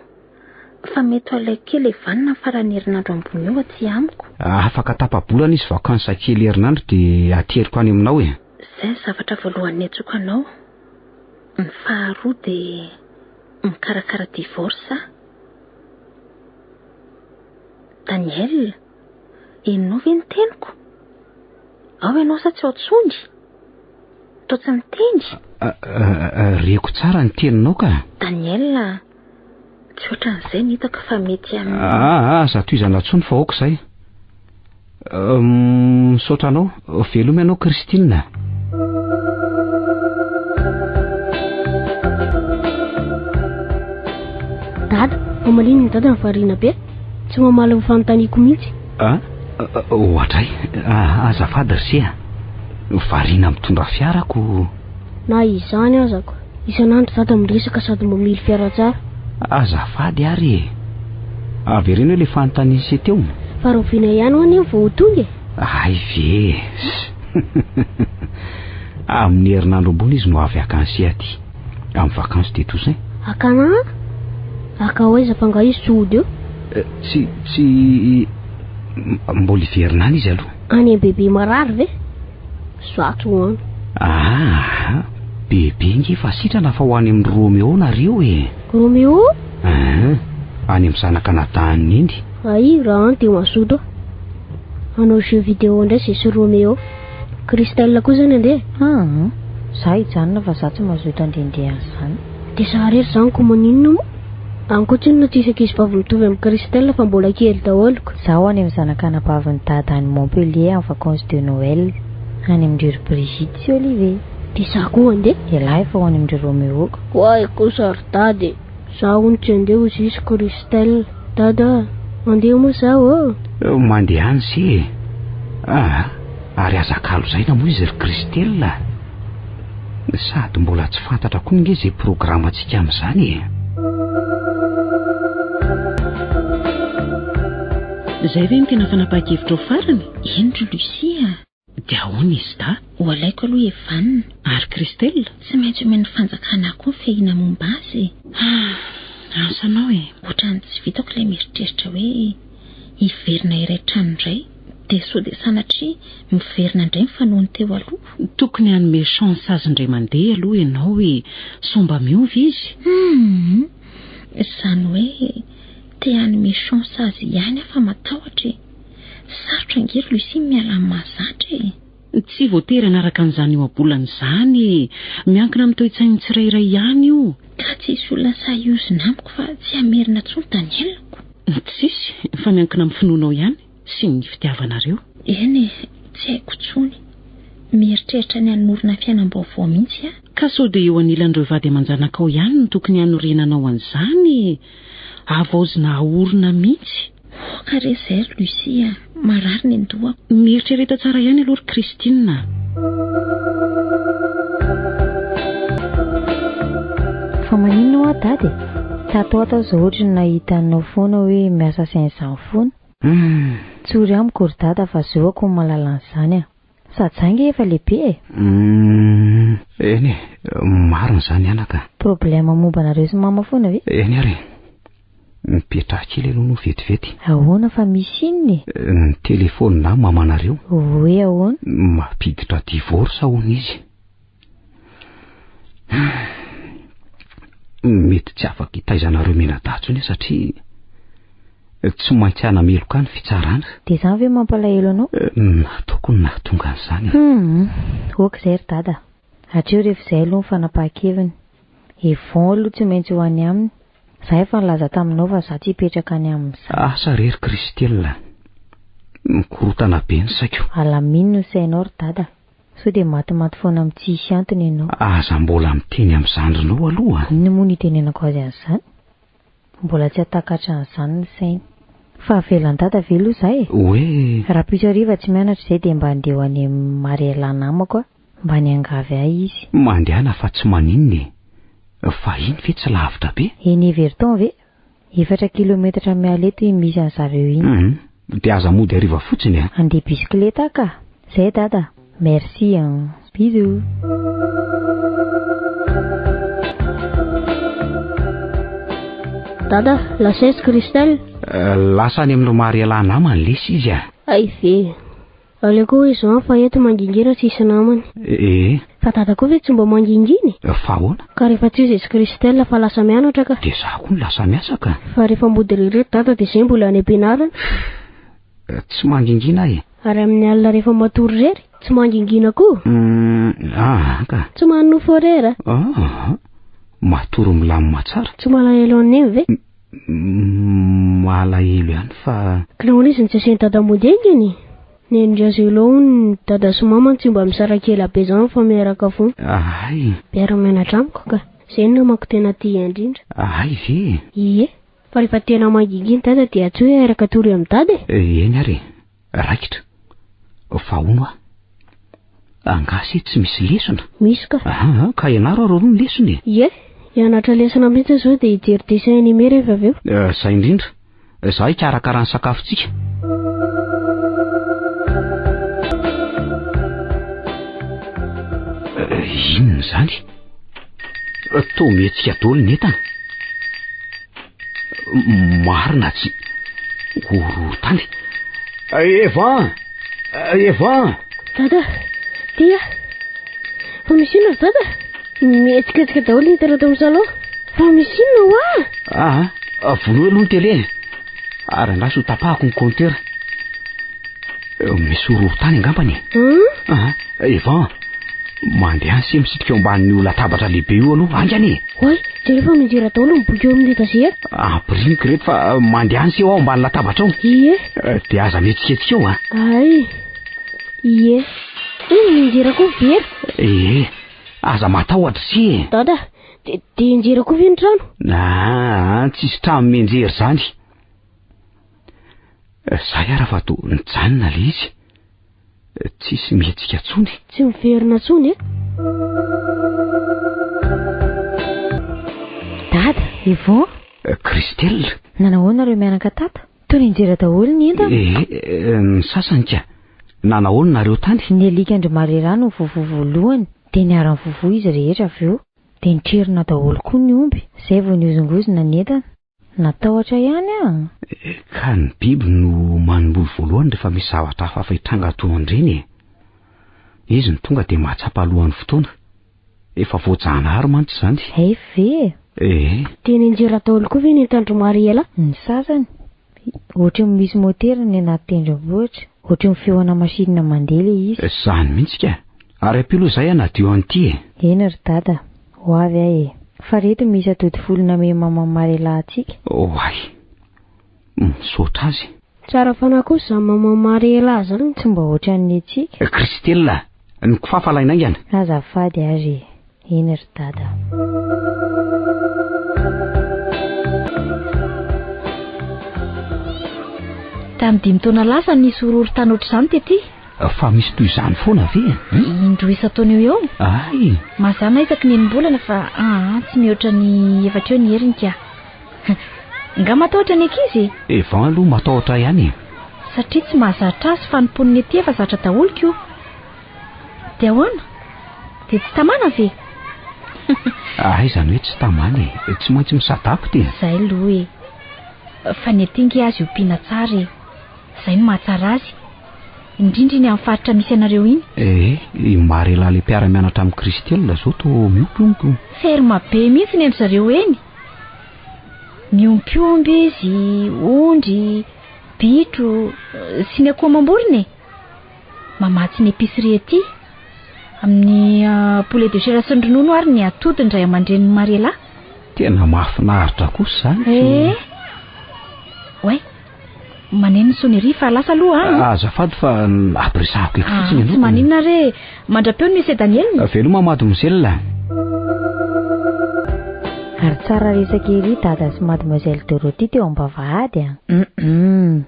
Fa mety ho aleo kely evanina ny faran'ny herinandro ambony io aty amiko. Afaka tapa-bolana izy vacances kely herinandro dia ateriko any aminao e. Izay ny zavatra voalohany niantsoako anao. Ny faharoa dia mikarakara divorce aho. Daniel, henonao ve ny teniko? Ao ianao sa tsy ao tsony? Toa tsy miteny? Reko tsara ny teninao ka. Daniel, Tsy ohatran'izay ny hitako fa mety amin'ny... Ah, ah, ah za tohizana tsony fa ok zay. Misaotra anao. Veloma ianao Christine. Dada, amaliny ny dada ny variana be. Tsy mamaly ny fanontaniako mihitsy. Ah, ohatray. Ah, azafady Risia. Variana mitondra fiarako. Na izany aza ko, isan'andro dada miresaka sady mamily fiara tsara. Azafady ary e! Avereno ilay fanontaniana se teo. Fa rahoviana ihany ho'a ny eo vao ho tonga e? Hay ve eh! Amin'ny herinandro ambony izy no avy haka an'se aty, amin'ny vacances de Toussaint. Hakana an? Haka ho aiza fa angaha izy tsy hody eo? Eh, tsy, tsy, mbola hiverina any izy aloha. Any am-bebe marary ve? Zato ho an. Aa! Bebe nge fa sitrana fa ho any amin'ny Roméo nareo e! Roméo? Aa! Any amin'ny zanaka nadahany neny. Aïe, raha any dia mazoto aho. Hanao jeu vidéo indray zay sy Roméo. Christelle koa izany andeha e! Aa! Za hijanona fa za tsy mazoto handehandeha an'izany. Dia za rery zany ko maninona moa? Ankoatriny no tsisy ankizy vavy mitovy amin'i Christelle fa mbola kely daholo ko. Zaho any amin'ny zanak'anabavin'i Dada any Montpellier en vacances de Noël. Any amin-dry ry Brigitte sy Olivier. Dia za koa handeha. Ialahy fa ho any amin-dry Roméo ko. Koa ahy kosa ry Dada e. Za hono tsy handeha hoy Zisy Christelle. Dada a! Mandeha moa zaho ô! Mandeha any se e. Aa! Ary aza kalo zaina moa izy ry Christelle a! Sady mbola tsy fantatra koa nge izay programantsika amin'izany e. Izay ve no tena fanapahan-kevitrao farany? Eny ry Lucie a! Dia ahoana izy da? Ho alaiko aloha Evan. Ary Christelle? Tsy maintsy omen'ny fanjakana koa ny fiahiana momba azy e. Hum, ansanao e. Ohatran'ny tsy vitako ilay mieritreritra hoe hiverina iray trano indray. Dia sao dia sanatria miverina indray ny fanaony teo aloha. Tokony hanome chance azy indray mandeha aloha ianao hoe sao mba miova izy. Humm. Izany hoe te hanome chance azy ihany aho fa matahotra e. Sarotra ange ry Lucie ny miala amin'ny mahazatra e. Tsy voatery hanaraka an'izany ohabolana izany e. Miankina amin'ny toe-tsain'ny tsirairay ihany io. Ka tsy hisy olona sahy hiozona amiko fa tsy hamerina intsony Daniel-ko. Tsisy, fa miankina amin'ny finoanao ihany. sy ny fitiavanareo. Eny e, tsy haiko intsony. Mieritreritra ny hanorina fiainam-baovao mihitsy aho. Ka sao dia eo anilan'ireo vady aman-janakao ihany no tokony hanorenanao an'izany e! Havaozina haorina mihitsy. Hoka re izay ry Lucie a! Marary ny an-dohako. Mieritrereta tsara ihany aloha ry Christine a! Fa maninona hoa dada e? Tato ato aho izao ohatry ny nahita anao foana hoe miasa sain izany foana. Tsory amiko ry dada fa zoako ny mahalala an'izany a! Sady za nge efa lehibe e! Eny e, marina izany anaka a! Problème momba anareo sy mama foana ve? Eny ary e! Mipetraha kely aloha no vetivety. Ahoana fa misy inona e? Ny telefaonina mamanareo. Hoe ahoana? Mampiditra divorce hono izy. Mety tsy afaka itaizanareo menadatsy ny satria tsy maintsy hanameloka ny fitsarana. Dia izany ve mampalahelo anao? Eh, nataoko ny nahatonga an'izany. Hmm, ok izay ry dada. Hatreo rehefa izay aloha ny fanapahan-keviny. Yvon aloha tsy maintsy ho any aminy. Za efa nilaza taminao fa za tsy hipetraka any aminy za. Asa re ry Christelle. Mikorontana be ny saiko. Alamino ny sainao ry dada. Sao dia matimaty foana am tsisy antony ianao. Aza mbola miteny am zandrinao aloha an! Inona moa no itenenako azy an'izany? Mbola tsy hahatakatra an'izany ny sainy. Fa avelan'i dada ve aloha za e? Hoe? Rapoitso hariva tsy mianatra izay dia mba andeha ho any am Mariella namako aho mba niangavy ahy izy. Mandehana fa tsy maninona e! Fahiny ve tsy lavitra be? Eny Everton ve? Efatra kilometatra miala eto iny misy anzareo iny. Hum, dia aza mody hariva fotsiny a. Andeha bisikileta aho ka. Zay dada. Merci an. Bisous. Dada, lasa aiza Christelle? Lasa any amin'i Ry Maria lahy namany lesy izy a. Hay ve. Aleoko hoy Jean fa eto mangingina tsisy namana. Ee. Fa dada koa ve tsy mba mangingina e? Fa ahoana? Ka rehefa tsy izy izy Christelle fa lasa mianatra ka. Dia za koa no lasa miasa ka. Fa rehefa mody irery ry dada dia izay mbola any am-pianarana. Fff, tsy mangingina aho e. Ary amin'ny alina rehefa matory irery, tsy mangingina koa? Umm, aa ka. Tsy manonofy horaire? Aa, matory milamina tsara. Tsy malahelo an'i Neny ve? malahelo ihany fa Kila olona izy ny tsy asian'i dada mody aingana e! Nenindry aza eo lohany ny dada sy mama tsy mba misaraka ela be zany fa miaraka fona. Ahay! Miara mianatra amiko ka! Zay ny namako tena tia indrindra. Ahay ve e! Ie! Fa rehefa tena mangingina dada dia tsy hoe airaka tory amin'i dada e! Eny ary e! Raikitra. Fa hono aho. Angaha se tsy misy lesona? Misy ka. Aha, ah, ka ianaro ary aloha ny lesona e. Ie, hianatra lesona mihitsy aho izao dia hijery dessin animé rehefa avy eo. Eh, izay indrindra. Izaho hikarakara ny sakafontsika. Eh, inona izany? Eh, toa mihetsika daholo ny entana. Marina tsy horohorontany. Evan! Evan! Dada, dia fa misy inona ry dada? Mihetsiketsika daholo ny telo ato amin'ny salon. Fa misy inona hoa? Ah, ah vonoy aloha ny tele. Ary angaha sy ho tapahako ny compteur. Misy horohorontany angambany e. Hmm? Ah, Evan, mandeha sy misitrika eo ambanin'io latabatra lehibe io aloha haingana e. Hoy, jereo fa midira daholo ny boky eo amin'ny etazera. Ampirimiko ireto fa eh, mandeha any sy eo aho ambany latabatra ao. Ie. Eh, dia aza mihetsiketsika eo a. Ah. Ay. Ie. Hoy ny midira koa vera. Ee, aza matahotra sy e. Dada, dia de injera koa ve ny trano? Ah, ah, tsisy trano mianjery izany. Zay ara fa to nijanona le izy. Tsisy mihetsika tsony. Tsy miverina tsony eh. Dada, Yvon. Eh, Christelle. Nanahoana reo mianaka tata? Toa ninjera daholo ny entana. Eh, eh, ny sasany ka. Nanahoana nareo tany? Ny alikandry marera no vovo voalohany, dia niharan'ny vovo izy rehetra avy eo. Dia nitrerona daholo koa ny omby, izay vao nihozongozona ny entana. Natahotra ihany aho. Ka ny biby no manomboly voalohany rehefa misy zavatra hafahafa hitranga toa an'ireny e. Izy no tonga dia mahatsapa alohan'ny fotoana. Efa voajanahary mantsy izany. Hay ve e! Ee. Dia nianjera daholo koa ve ny entan-dry Mariela? Ny sasany. Ohatry ny misy motera ny anaty tendrombohitra. Ohatry ny feona masinina mandeha ilay izy. Izany mihitsy ka! Ary ampio aloha izay hanadio an'ity e! Eny ry dada, ho avy aho e! Fa reto misy atody folo namehy maman Marela antsika. Oay! Misaotra azy. Tsara fanahy kosa zany maman Marela zany. Tsy mba ohatran'ny antsika. Christella, ny kifafa alaina aingana. Azafady ary e. Eny ry dada. Tamin'ny dimy taona lasa no nisy horohorontany ohatr'izany tety. Fa misy toy izany foana ve? Indroa isan-taona eo eo. Ay! Mazàna isaky ny enim-bolana fa aa tsy mihoatra ny efatra eo ny heriny ka. Nga matahotra ny ankizy e? Evan aloha matahotra ihany e. Satria tsy mahazatra azy fa ny mponin'ety efa zatra daholo ko. Dia ahoana? Dia tsy tamana ve? Ah, izany hoe tsy tamana e. Tsy maintsy misadako dia. Izay aloha e. Fa ny aty nge azy ompiana tsara e. Izay no mahatsara azy. Indrindra iny amin'ny faritra misy anareo iny. Eh, i Marela le mpiara-mianatra amin'i Christelle izao to miompy omby o. Ferme be mihitsy ny an-dry zareo eny. Miompy omby izy, ondry, bitro sy ny akoho amam-borona e. Mamatsy ny épicerie ety amin'ny poulet de chair sy ny ronono ary ny atody ny ray aman-drenin'i Mariela. Tena mahafinaritra kosa izany. Eh! Ouais. Maneno ny sonnerie fa lasa aloha an! Azafady fa ampiresahako eto fotsiny aloha. Tsy maninona re. Mandra-peo ny Mesedaniela. Veloma Mademoiselle. Ary tsara resaka ery Dada sy Mademoiselle Dorothy teo am-bavahady a! Hum.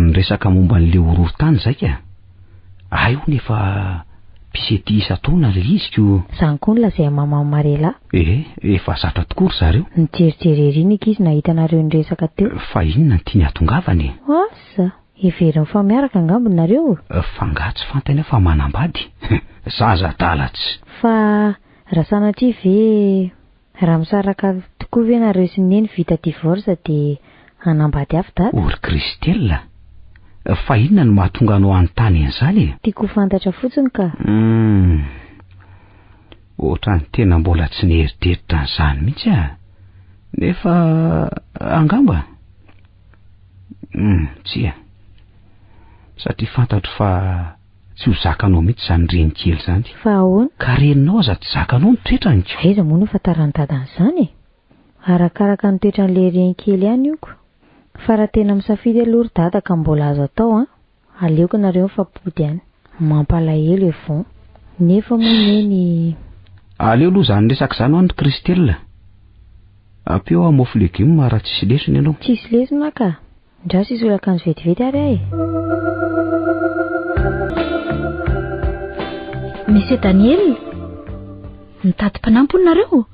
Niresaka momba an'ilay horohorontany izay ka. Hay hono efa mpisety isan-taona ilay izy ko. Izany koa no lazain'i Maman Marela. Ee, efa zatra tokoa ry zareo. Nijerijery ery ny ankizy nahita anareo niresaka teo. Fa inona no tiany hahatongavana e? Asa! Heveriny fa miaraka angamba nareo? F'angaha tsy fantany aho fa manambady? Zaza adala tsy. Fa raha sanatria ve raha misaraka tokoa ve nareo sy neny vita divorce dia hanambady hafa dada? O ry Christelle! Fa inona no mahatonga anao hanontany an'izany e? Tiako ho fantatra fotsiny ka. Humm. Ohatrany tena mbola tsy nieritreritra an'izany mihitsy aho. Nefa angamba. Humm, tsia. Satria fantatro fa tsy ho zakanao mihitsy izany reny kely izany. Fa ahoana? Ka reninao aza tsy zakanao ny toetrany ko! Aiza moa no ahafantaran'i dada an'izany e? Arakaraka ny toetran'ilay reny kely ihany io ko. Fa raha tena misafidy aloha ry dada ka mbola azo atao an! Aleoko nareo mifampody any. Mampalahelo e vont. Nefa moa ne ny. Aleo aloha zany resaka zany hoany Christelle. Ampio hoa mofo legume raha tsisy lesona ianao. Tsisy lesona ka! Ndraso hisolo akanjo vetivety ary aho e! Monsieur Daniel, mitady mpanampy hono nareo?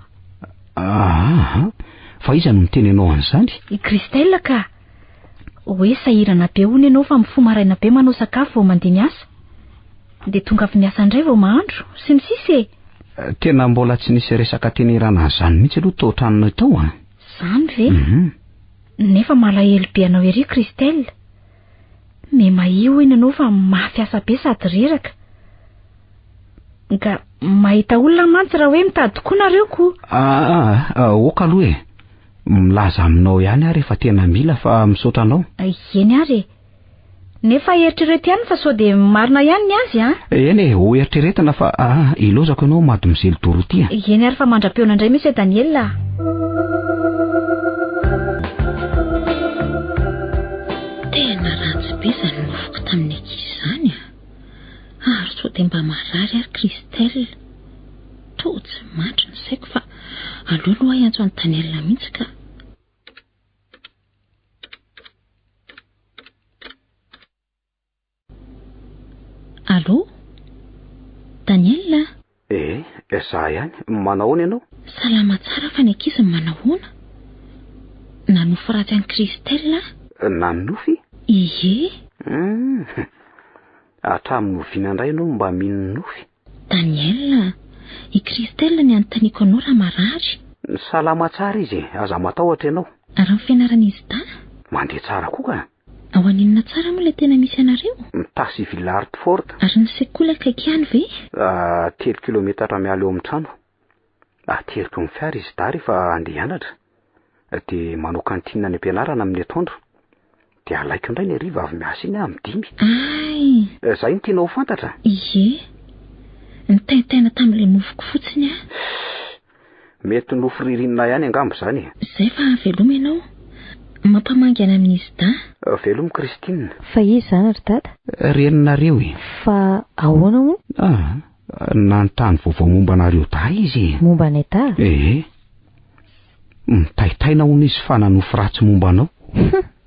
Aaha, fa iza no miteny anao an'izany? I Christelle ka! Hoe sahirana be hono ianao fa mifoha maraina be manao sakafo vao mandeha miasa? Dia tonga avy miasa indray vao mahandro? Sy ny sisa e! Tena mbola tsy nisy resaka tena irana an'izany mihitsy aloha tao an-tranonay tao an! Izany ve? Mhm. Nefa malahelo be anao ery Christelle. Memaia hono ianao fa mafy asa be sady reraka. Nga mahita olona mantsy raha hoe mitady koa nareo ko! Ah, ah, ah, ok aloha e! Milaza aminao ihany aho rehefa tena mila fa misaotra anao. Eny ary e. Nefa eritrereto ihany fa sao dia marina ihany ny azy an? Eny e, ho eritreretina fa ah, ilozako ianao Mademoiselle Dorothea. Eny ary fa mandra-peona indray Monsieur Daniel ah. Tena ratsy be izany nofoko tamin'ny ankizy izany ah. Ary sao dia mba marary ary Christelle. Toa tsy mandry ny saiko fa aleo aloha hiantso an'i Daniela mihitsy ka. Allo? Daniela? Eh, za ihany. Manahoana ianao? Salama tsara fa ny ankizy manahoana? Nanofy ratsy an'i Christelle aho. Nanofy? Ie. Hum. Hatramin'ny oviana indray ianao mba mino nofy? Daniel, i Christelle ny anontaniako anao raha marary. Salama tsara izy e, aza matahotra ianao. Ary ny fianaran'izy dahy? Mandeha tsara koa ka. Ao aninona tsara moa ilay tena misy anareo? Mtah sy Villard Fort. Ary ny sekoly akaiky ihany ve? Ahh, telo kilometatra miala eo amin'ny trano. Ateriko amin'ny fiara izy dahy rehefa andeha hianatra, dia manao kantinina any am-pianarana amin'ny atoandro, dia alaiko indray ny hariva avy miasa iny amin'ny dimy. Ay! Eh, izay no tianao ho fantatra? Ie, nitaintaina tamin'ilay mofoko fotsiny aho. Mety nofo ririnina ihany angamba izany e. Izay fa veloma ianao. Mampamangana amin'izy dahy. Eh, veloma Christine. Fa iza izany ry dada? Reninareo e. Fa ahoana hono? Ah. Nanontany vaovao momba anareo dahy izy e. Momba anay dahy? Ee. Eh. Mitaitaina hono izy fa nanofy ratsy momba anao.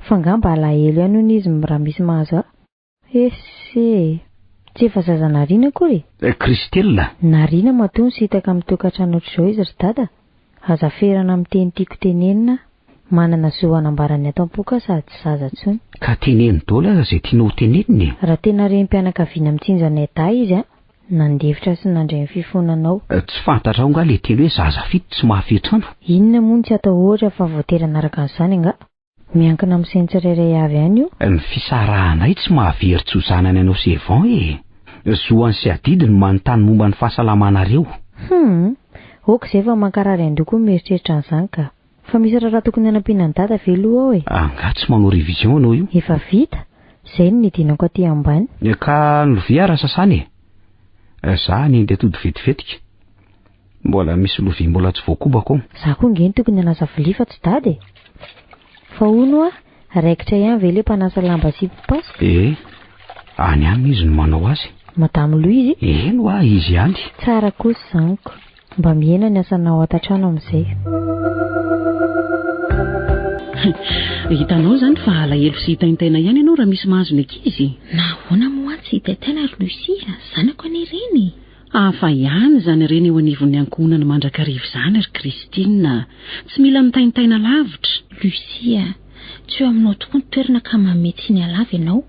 Fa ngamba alahelo ihany hono izy raha misy mahazo ahy. Ese. Tsy efa zaza narina akory e. Eh, Christella. Narina matoa nisitaka amin'ny tokantrano ohatr'izao izy ry dada. Aza ferana miteny tiako tenenina, manana zo hanambara ny ato ampoka sady tsy zaza tsony. Ka teneno dolo aza zay tianao ho tenenina e! Raha tena renim-pianakaviana mitsinjo anay dahy izy a! Nandefitra sy nandre ny fifonanao. Tsy fantatrao nga le teny hoe zaza fito tsy mahafehy trano? Inona moa no tsy atahoatra fa voatery hanaraka an'izany angaha? Miankina amin'ny sain'ny tsirairay avy ihany io. Ny fisarahanay tsy mahavery tsy ho zanany anao sy Evan e! Zohany sy adidy no manontany momba ny fahasalamanareo. Hum! Ok izay fa mankarary andoha koa ny mieritreritra an'izany ka! Fa misy raharaha tokony hanampiana an'i Dada ve aloha ao e? Angaha tsy manao révision ianao io? Efa vita! Izay no nidinako aty ambany. Ka ny lovia ary sasana e! Za hanendy atody vetivetika. Mbola misy lovia mbola tsy voakobako ao. Za koa nge no tokony hanasa vilia fa tsy dada e! Fa hono hoa, raikitra ihany ve le mpanasa lamba sy mpipasoka? Ee, any aminy izy no manao azy. Madame Lou izy? Eny hoa, izy ihany. Tsara kosa zaniko. Mba mihena ny asanao ato an-trano amin'izay a! Hitanao izany fa alahelo sy hitaintaina ihany ianao raha misy mahazo ny ankizy? Nahoana moa tsy hitaintaina ry Lucie a! Zanako anie ireny e! Hafa ihany izany harena eo anivon'ny ankohonana mandrakariva izany, ry Christine a! Tsy mila mitaintaina lavitra. Lucie a! Tsy eo aminao tokoa ny toerana ka manome tsiny halava ianao,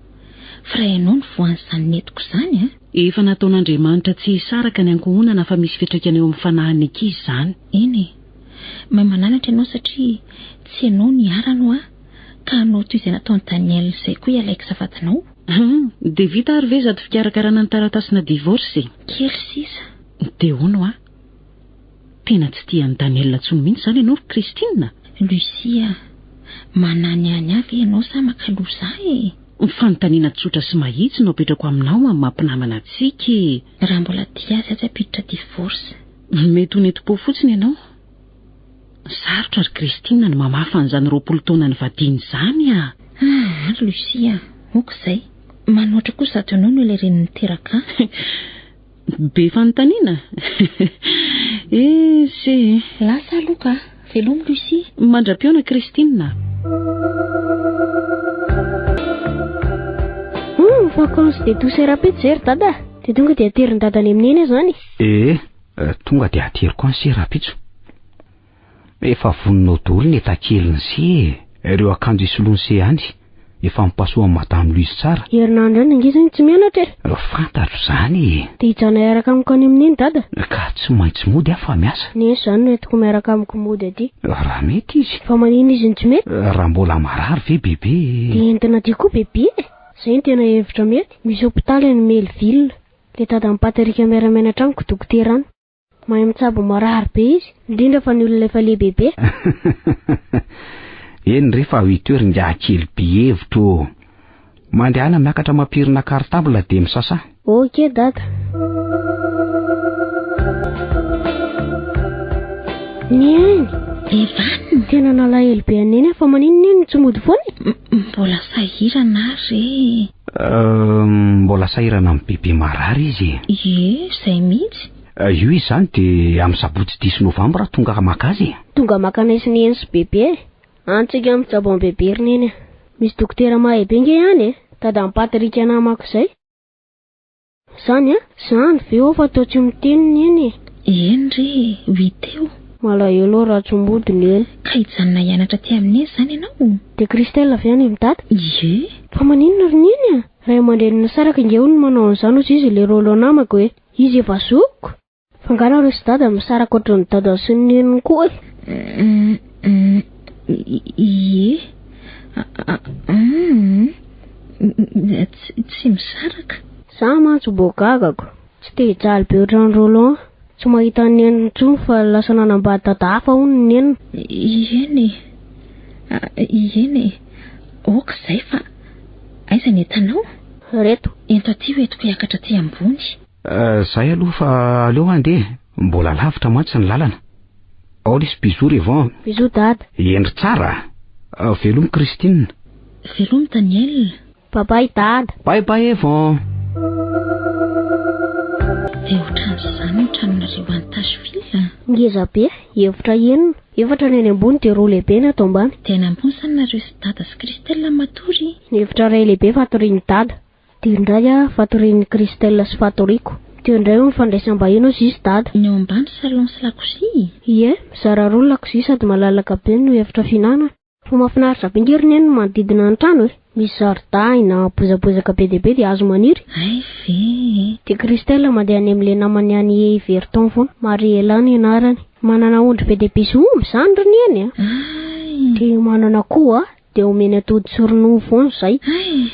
fa raha ianao no voan'izany netiko izany a! Efa nataon'Andriamanitra tsy hisaraka ny ankohonana fa misy fiantraikany eo amin'ny fanahin'ny ankizy izany. Eny e! Mahay mananatra ianao satria tsy ianao niharanao ahy ka hanao toy izay nataon'i Daniel izay koa ialahy kisafatinao. Hum, dia vita ary ve zato fikarakarana ny taratasina divorce e? Kely sisa. Dia hono hoa? Tena tsy tia an'i Daniel intsony mihitsy izany ianao ry Christine? Lucia, mananiany ahy ve ianao sa maka loha za e? Fanontaniana tsotra sy mahitsy no apetrako aminao amin'ny maha mpinamana antsika e! Raha mbola tia azy aza ampiditra divorce. Mety ho nentim-po fotsiny ianao. Sarotra ry Christine ny mamafa an'izany roapolo taona nivadiany izany ah! Ah, ry Lucia, ok izay. Manoatra koa sady honono ilay reny niteraka ahy. Be fanontaniana? Eh, se. Lasa aloha ka. Velomy Lucia. Mandra-pihaona Christine. Hum, vacances de douceur Rapejery dada. Dia tonga dia aterin-dada any amin'i Neny aho izany. Eh. Eh, tonga dia ateriko any se rahampitso. Efa voninao daholo ny etakeliny se e. Ireo akanjo hisoloany se any, efa ampasoan'i Madame Louise tsara. Herinandro any ange zegny tsy mianatra e. Eh, fantatro zany e. Dia hijanona hiaraka amiko any amin'iny dada? Ka tsy maintsy mody aho fa miasa. Neny zany no entiko miaraka amiko mody aty. Eh, raha mety izy. Fa maninona izy no tsy mety? Eh, raha mbola marary ve bebe e. Dia entina aty koa bebe e. Zay no tena hevitra mety. Misy hopitaly any Melville. Le dadan'i Patrick miara-menatra amiko dokotera an! Mahay mitsabo marary be izy, indrindra fa ny olona efa lehibe be. Eny re fa huit heures ingahy kely be hevitra ô! Mandehana miakatra mampirina cartable dia misasà. Ok dada. Neny! Evan! Tena nalahelo be an'i Neny aho fa maninona iny no tsy mody foana e? Mbola sahirana aho re. Mbola sahirana amin'ny bebe marary izy e. Ie, izay mihitsy. Io izy izany dia amin'ny sabotsy diso novambra tonga maka azy e. Tonga maka anay sy neny sy bebe e. Any tsika mijabo amin'ny bebe ry neny a. Misy dokotera mahay be nge any e. Dada an'i Patrick namako izay. Zany a? Zany ve ô fa teo tsy miteny neny e? Eny re, oui teo. Malahelo aho raha tsy mody neny. Ka hijanona hianatra aty amin'i Neny zany ianao? Dia Christelle avy any amin'i Dada? Ie. Fa maninona ry Neny a? Ray aman-dreniny nisaraka ingahy hono no manao an'izany hozy izy ilay Rolland namako e! Izy efa zokiko! Angano ry sdada misaraka ohatran'ny dadany sy ny neniny koa e. Ie. Tsy misaraka. Za mantsy mbo gagako. Tsy te hijaly be ohatran'i Roland. Tsy mahita ny neniny intsony fa lasa nanambady dada hafa hono ny neniny. Ieny e. Ieny e. Ok izay fa aiza ny entanao? Reto. Ento aty ho entiko hiakatra aty ambony. Euh, zay aloha fa aleo handeha, mbola lavitra mantsy ny lalana. Ao lesy bisous Revon. Bisous dada. Hendry tsara. Euh, velomy Christine. Velomy Daniel. Bye bye dada. Bye bye Evon. Dia ohatran'izany ny tranonareo any Tashville? Ngeza be, efitra enina. Efatra ny any ambony dia roa lehibe ny ato ambany. Dia any ambony izany nareo sy dada sy Christelle matory? Ny efitra iray lehibe fatorian'i dada. Dia indray ah fatorian'i Christelle sy fatoriako. Teo indray hono fandraisam-bahiny hoy Zisy Dada. Ny ao ambany salon sy lakozia e! Ie, mizara roa ny lakozia sady malalaka be no efitra fihinanana. Fa mahafinaritra be nge ry Neny ny manodidina ny trano e! Misy zaridaina, bozabozaka be dia be dia hazo maniry. Hay ve e! Dia Christelle mandeha any amin'ilay namany any Heverton foana. Mariela ny anarany. Manana ondry be dia be sy omby izany ry Neny a! Hay! Dia manana akoho a! Dia omeny atody sy ronono foana izay. Hay!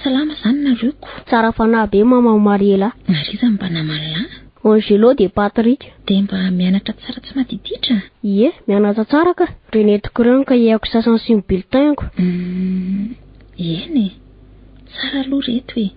Salama izany nareo ko! Tsara fanahy be maman Mariela. Mariza mba naman'i la. Angelo dia Patrick. Dia mba mianatra tsara tsy madiditra. Ie, mianatra tsara ka! Renetiko ireo ny cahier-ko sasany sy ny bulletin-ko. Umm, eny e! Tsara aloha ireto e!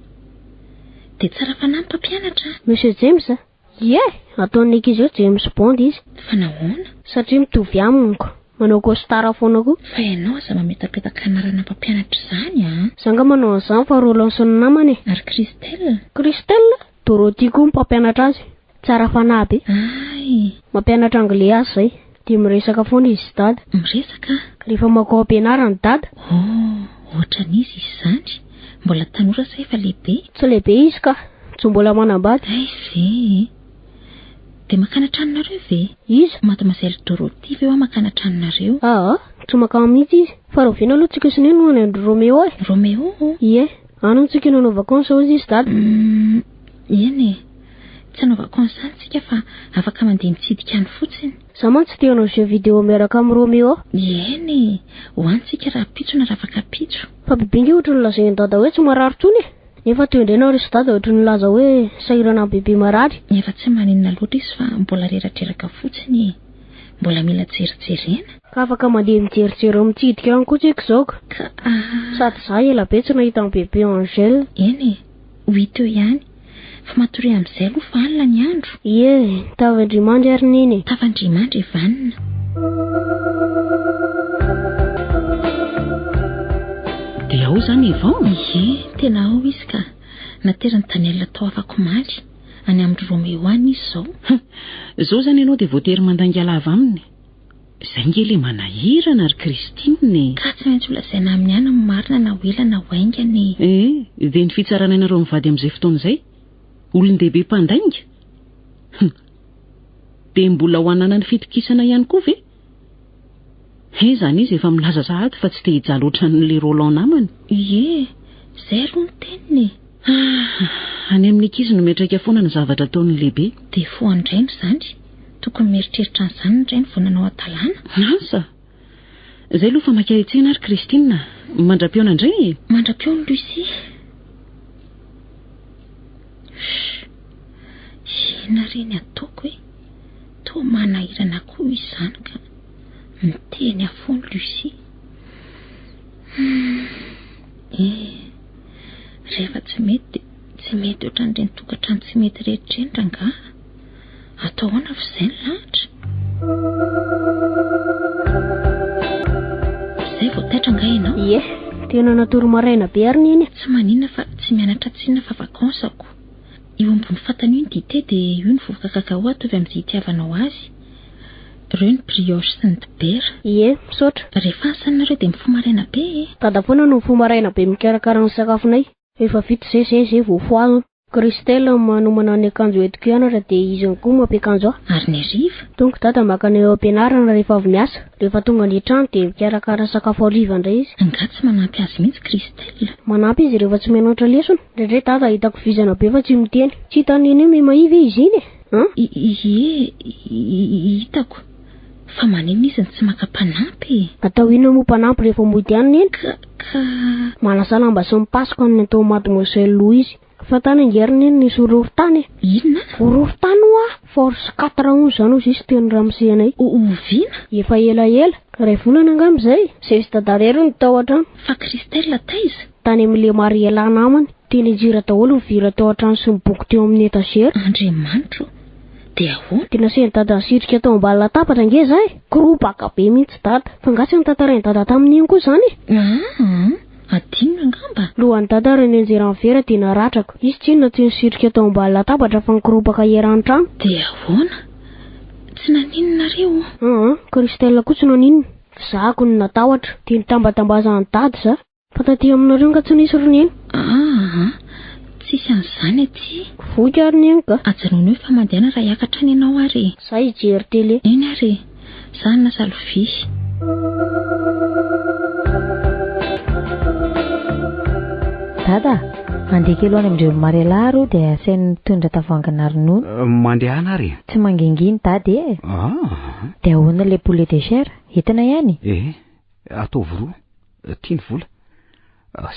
Dia tsara fanahy ny mpampianatra a! Monsieur James a! Ie! Ataon'ny ankizy hoe James Bond izy. Fa nahoana? Satria mitovy amiko. Manao costard foana koa. Fa ianao aza mametapetaka anarana mpampianatra izany an! Za nga manao an'izany fa Rolanson ny namany e! Ary Christelle? Christelle? Dorothy koa ny mpampianatra azy. Tsara fanahy be. Ay! Mampianatra anglais azy izay. Dia miresaka foana izy dada. Miresaka? Rehefa makao am-pianarana dada. Oh, ohatran'izy izy izany. Mbola tanora sa efa lehibe? Tsy lehibe izy ka. Tsy mbola manambady. Hay ve e. Dia makany an-tranonareo ve? Iza? Mademoiselle Dorothy ve hoa makany an-tranonareo? Aa, tsy makany mihitsy izy. Fa rahoviana aloha tsika sy ny no any an-dry Roméo e? Roméo? Ie, any hono tsika no hanao vakansy, hoy izy dada. Hum. Eny e! Tsy anaovako consent tsika fa afaka mandeha mitsidika any fotsiny. Za mantsy te hanao jeux video miaraka am Romeo. Eny e! Ho any tsika rahampitso na rafakapitso. Fa bebe nge ohatry ny lazain'i dada hoe tsy marary tsony e! Nefa teo indray nareo sy dada ohatry ny nilaza hoe sahirana am bebe marary. Efa tsy maninona loatra izy fa mbola reradreraka fotsiny e! Mbola mila jerijerena. Ka afaka mandeha mijerijery ao mitsidika any koa tsika izao ka! Ka ah! Sady za ela be tsy nahita an bebe Angel. Eny e! ho hita eo ihany. Fa matoria amin'izay aloha fa alina ny andro. Ie, tavan-drimandry ary neny e. Tavan-drimandry e vanona. Dia ao izany Yvon? Ie, tena ao izy ka. Nateran'i Daniel tao afakomaly. Any amin-dry Roméo any izy izao. Hum, izao izany ianao dia voatery mandainga lava aminy. Izay nge le manahirana ry Christine e! Ka tsy maintsy holazaina aminy ihany ny marina na ho ela na ho haingana e! Ee, dia ny fitsarana anareo mivady amin'izay fotoana izay? Olon-dehibe mpandainga? Hum! Dia mbola ho hananany fitokisana ihany koa ve? He, izany izy efa milaza sahady fa tsy te hijaly ohatran'le Roland namany. Ie, izay aloha ny teniny e! Ah, any amin'ny ankizy no miantraika foana ny zavatra ataon'ny lehibe. Dia foan-drainy izany. Tokony mieritreritra an'izany ny rainy vao nanao hatalana. Asa! Izay aloha fa mankahetsena ary Christine. Mandra-pihaona indray e! Mandra-pihaona Lucie. Inona re ny ataoko e? Toa manahirana koa izany ka. Miteny afoana Lucie. Hmm. Eh. Rehefa tsy mety dia tsy mety ohatran'ireny tokantrano tsy mety rehetra ireny rangahy a! Atao ahoana fa izay ny lahatra? Izay vao taitra angaha ianao? Ie, tena natory maraina be ary neny a! Tsy maninona fa tsy mianatra tsinona fa vacances ko. Io ambony fatana io ny dite dia io ny vovoka cacao atovy amin'izay itiavanao azy. Reo ny brioche sy ny dibera. Ie, misaotra. Rehefa asa aminareo dia mifoha maraina be e. Dada foana no mifoha maraina be mikarakara ny sakafonay. Efa vita izay izay izay vao fohagna. Christelle ny manomana ny akanjo entiko hianatra dia izy ihany koa mampiakanjo ahy. Ary ny hariva? Donc dada makany eo ampianarana rehefa avy miasa. Rehefa tonga any an-trano dia mikarakara sakafo hariva indray izy. Angaha tsy manampy azy mihitsy Christelle? Manampy izy rehefa tsy mianatra lesona. Indraindray dada hitako vizana be fa tsy miteny. Tsy hitan'ny nenay mimahia ve izy iny e? An? Ie, hitako. Fa maninona izy no tsy maka mpanampy e? Atao inona moa mpanampy rehefa mody any neny? Ka, ka. Manasa lamba sy mipasoka ny ataon'i Mademoiselle Louise. Fa tany ange ry neny nisy horohorontany e? Inona? Horohorontany ho'a, force quatre hono izany hozy izy teo ny ramose anay. O, oviana? Efa elaela, iray volana angamba izay, izay izy dada irery no tao an-trano. Fa Christelle taiza? Tany amin'ny le Mariela namany, dia nijira daholo ny vira tao an-trano sy ny boky teo amin'ny etazera. Andriamanitro? Dia ahoana? Dia nasain'i Dada nisitrika tao ambany latabatra ange izahay. Korobaka be mihitsy Dada. Fa nga tsy notantarain'i Dada tamin'iny koa izany e? Aa! Adinony angamba? Lohan'i Dada ary nianjera ny vera dia naratrako. Izy tsinona tsy nisitrika tao ambany latabatra fa nikorobaka eran'ny trano. Dia ahoana? Tsy naninonareo? Aa, Christelle koa tsy naninona. F'izahako no natahotra. Dia nitambatambazan'i Dada izaho. Mpanadia aminareo nga tsy nisy ry neny? Aa, tsisy an'izany aty. Voky ary neny ka. Ajanony hoe famadihana raha hiakatra any ianao ary e. Za hijery télé. Eny ary e. Za hanasa lovia. Dada a! Mandeha kely ho any amin-dry ry Mariala ary io dia asainy mitondra tavoahangina ronono. Mandehana ary e. Tsy mangingina Dada e. Aa. Dia ahoana ilay poulet de chair? Entina ihany? Ee. Ataovy roa, tia ny vola.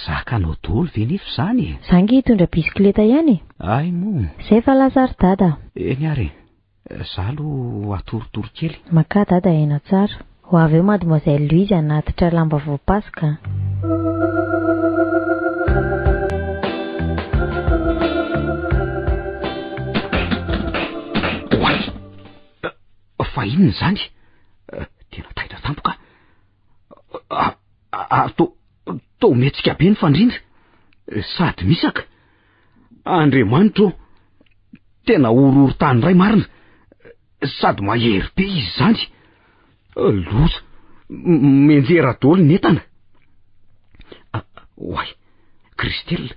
Zakanao daholo ve nefa izany e? Za nge hitondra bisikileta ihany e! Ay moa! Zay efa lasa ry dada! Eny ary e! Za aloha atorotoro kely. Makà dada aina tsara. Ho avy eo mademoiselle Louise hanatitra lamba voapasoka an! Fa inona izany? Tena taitra tampoka. Ary to to mihetsika be ny fandrindra. Sady misaka. Andriamanitro, tena horohorontany iray marina. Sady mahery be izy izany. Loza. Menjera daholo ny entana. Oay, Christelle.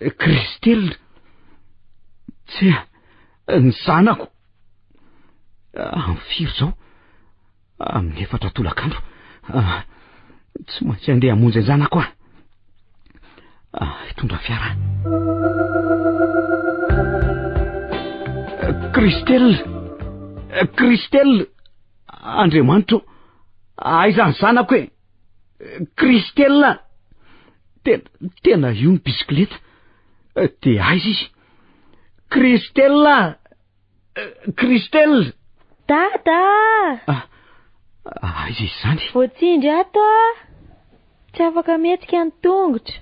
Kristel, tsy ny zanako. Amin'ny firy izao? Amin'ny efatra tolakandro. Ah, tsy maintsy andeha hamonjy an-janako aho. Ah, hitondra fiara. Kristel, Kristel, Andriamanitro, aiza ny zanako e? Christelle! Tena, tena io ny bisikileta. Te aiza izy? Christelle! Christelle! Dada! Ah, ah, aiza izany? Voatsindry ato ah! Tsy afaka mihetsika ny tongotra.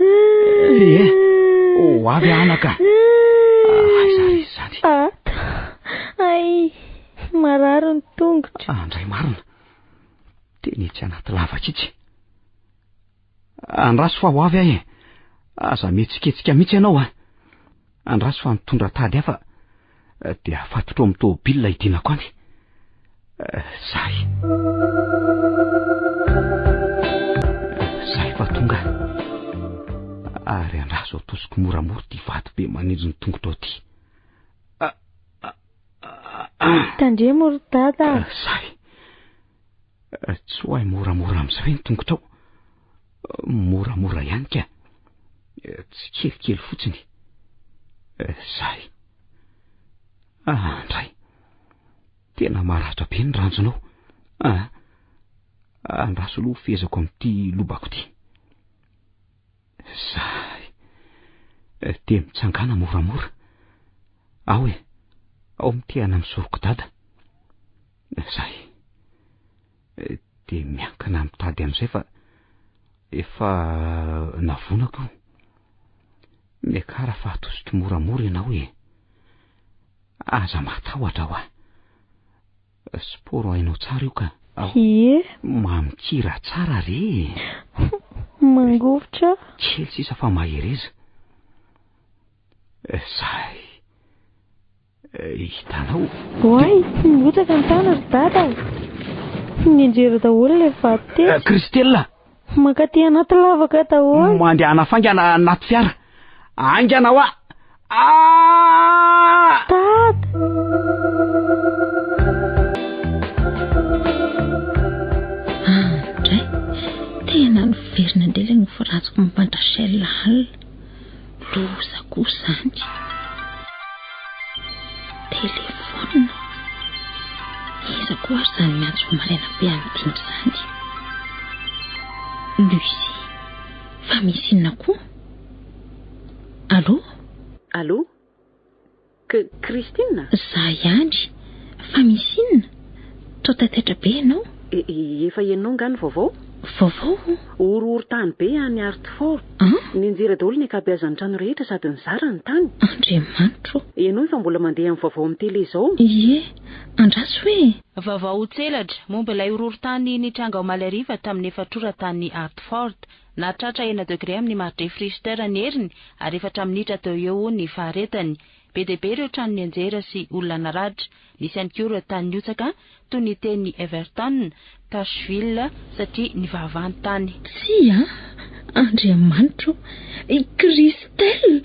Ee, ho avy anaka. Aiza ry izany? Ata, ay, marary ny tongotra. Andray marina. Teny etsy anaty lavaka itsy. Andraso fa ho avy aho e. Aza mihetsiketsika mihitsy ianao a. Andraso fa nitondra tady hafa dia afatotra ao amin'ny tômôbilina hidinako any. Zahy. Zahy fa tonga. Ary andraso atosiko moramora ity vato be manindry ny tongotra ao ity. Tandremo ry dada. Zahy. Tsy ho ahy moramora amin'izay ve ny tongotrao? Moramora ihany ka. Tsikelikely fotsiny. Zay. Ah, andray. Tena maratra be ny ranjonao. Ah, andraso aloha fezako amin'ity lobako ity. Zay. Dia mitsangana moramora. Ao e, ao mitehana amin'ny soroko dada. Zay. dia miankina amin'ny tady amin'izay fa efa navonako io. Miakara fa atosiko moramora ianao e. Aza matahotra hoa. Sporo hainao tsara io ka. Ie. Mamikira tsara re e. Mangovitra. Kely sisa fa mahereza. Sahy. Hitanao? Oay, tsy mirotsaka ny tany ry Dada ô! Tsy mianjera daholo ilay vato tetsy. Christella! Mankaty anaty lavaka daholo. Mandehana faingana anaty fiara. Haingana hoa! Aah! Dada! Tena niverina indray ilay nofy ratsiko momba an-dRachel alina. Loza koa zany. Telephone. Iza koa ary zany miantso maraina be amidiny zany. Lucie. Fa misy inona koa? Allô? Allô? Christine? Za ihany. Fa misy inona? Toa taitaitra be ianao? Efa henonao angaha ny vaovao? Vaovao o? Horohorontany be any Hartford. An? Nianjera daholo ny ankabeazan'ny trano rehetra sady nizara ny tany. Andriamanitro! Henoy fa mbola mandeha amin'ny vaovao amin'ny tele izao. Ie, andraso hoe? Vaovao tselatra momba ilay horohorontany nitranga omaly hariva tamin'ny efatr'ora tany Hartford. Nahatratra enina degre amin'ny mari-drefy Richter ny heriny ary efatra minitra teo eo ho ny faharetany. Be dia be ireo trano nianjera sy olona naratra. Nisy ihany koa ireo tany nihotsaka, toy ny teny Everton, Pashville, satria nivavaha ny tany. Tsia, Andriamanitra ô! Christelle!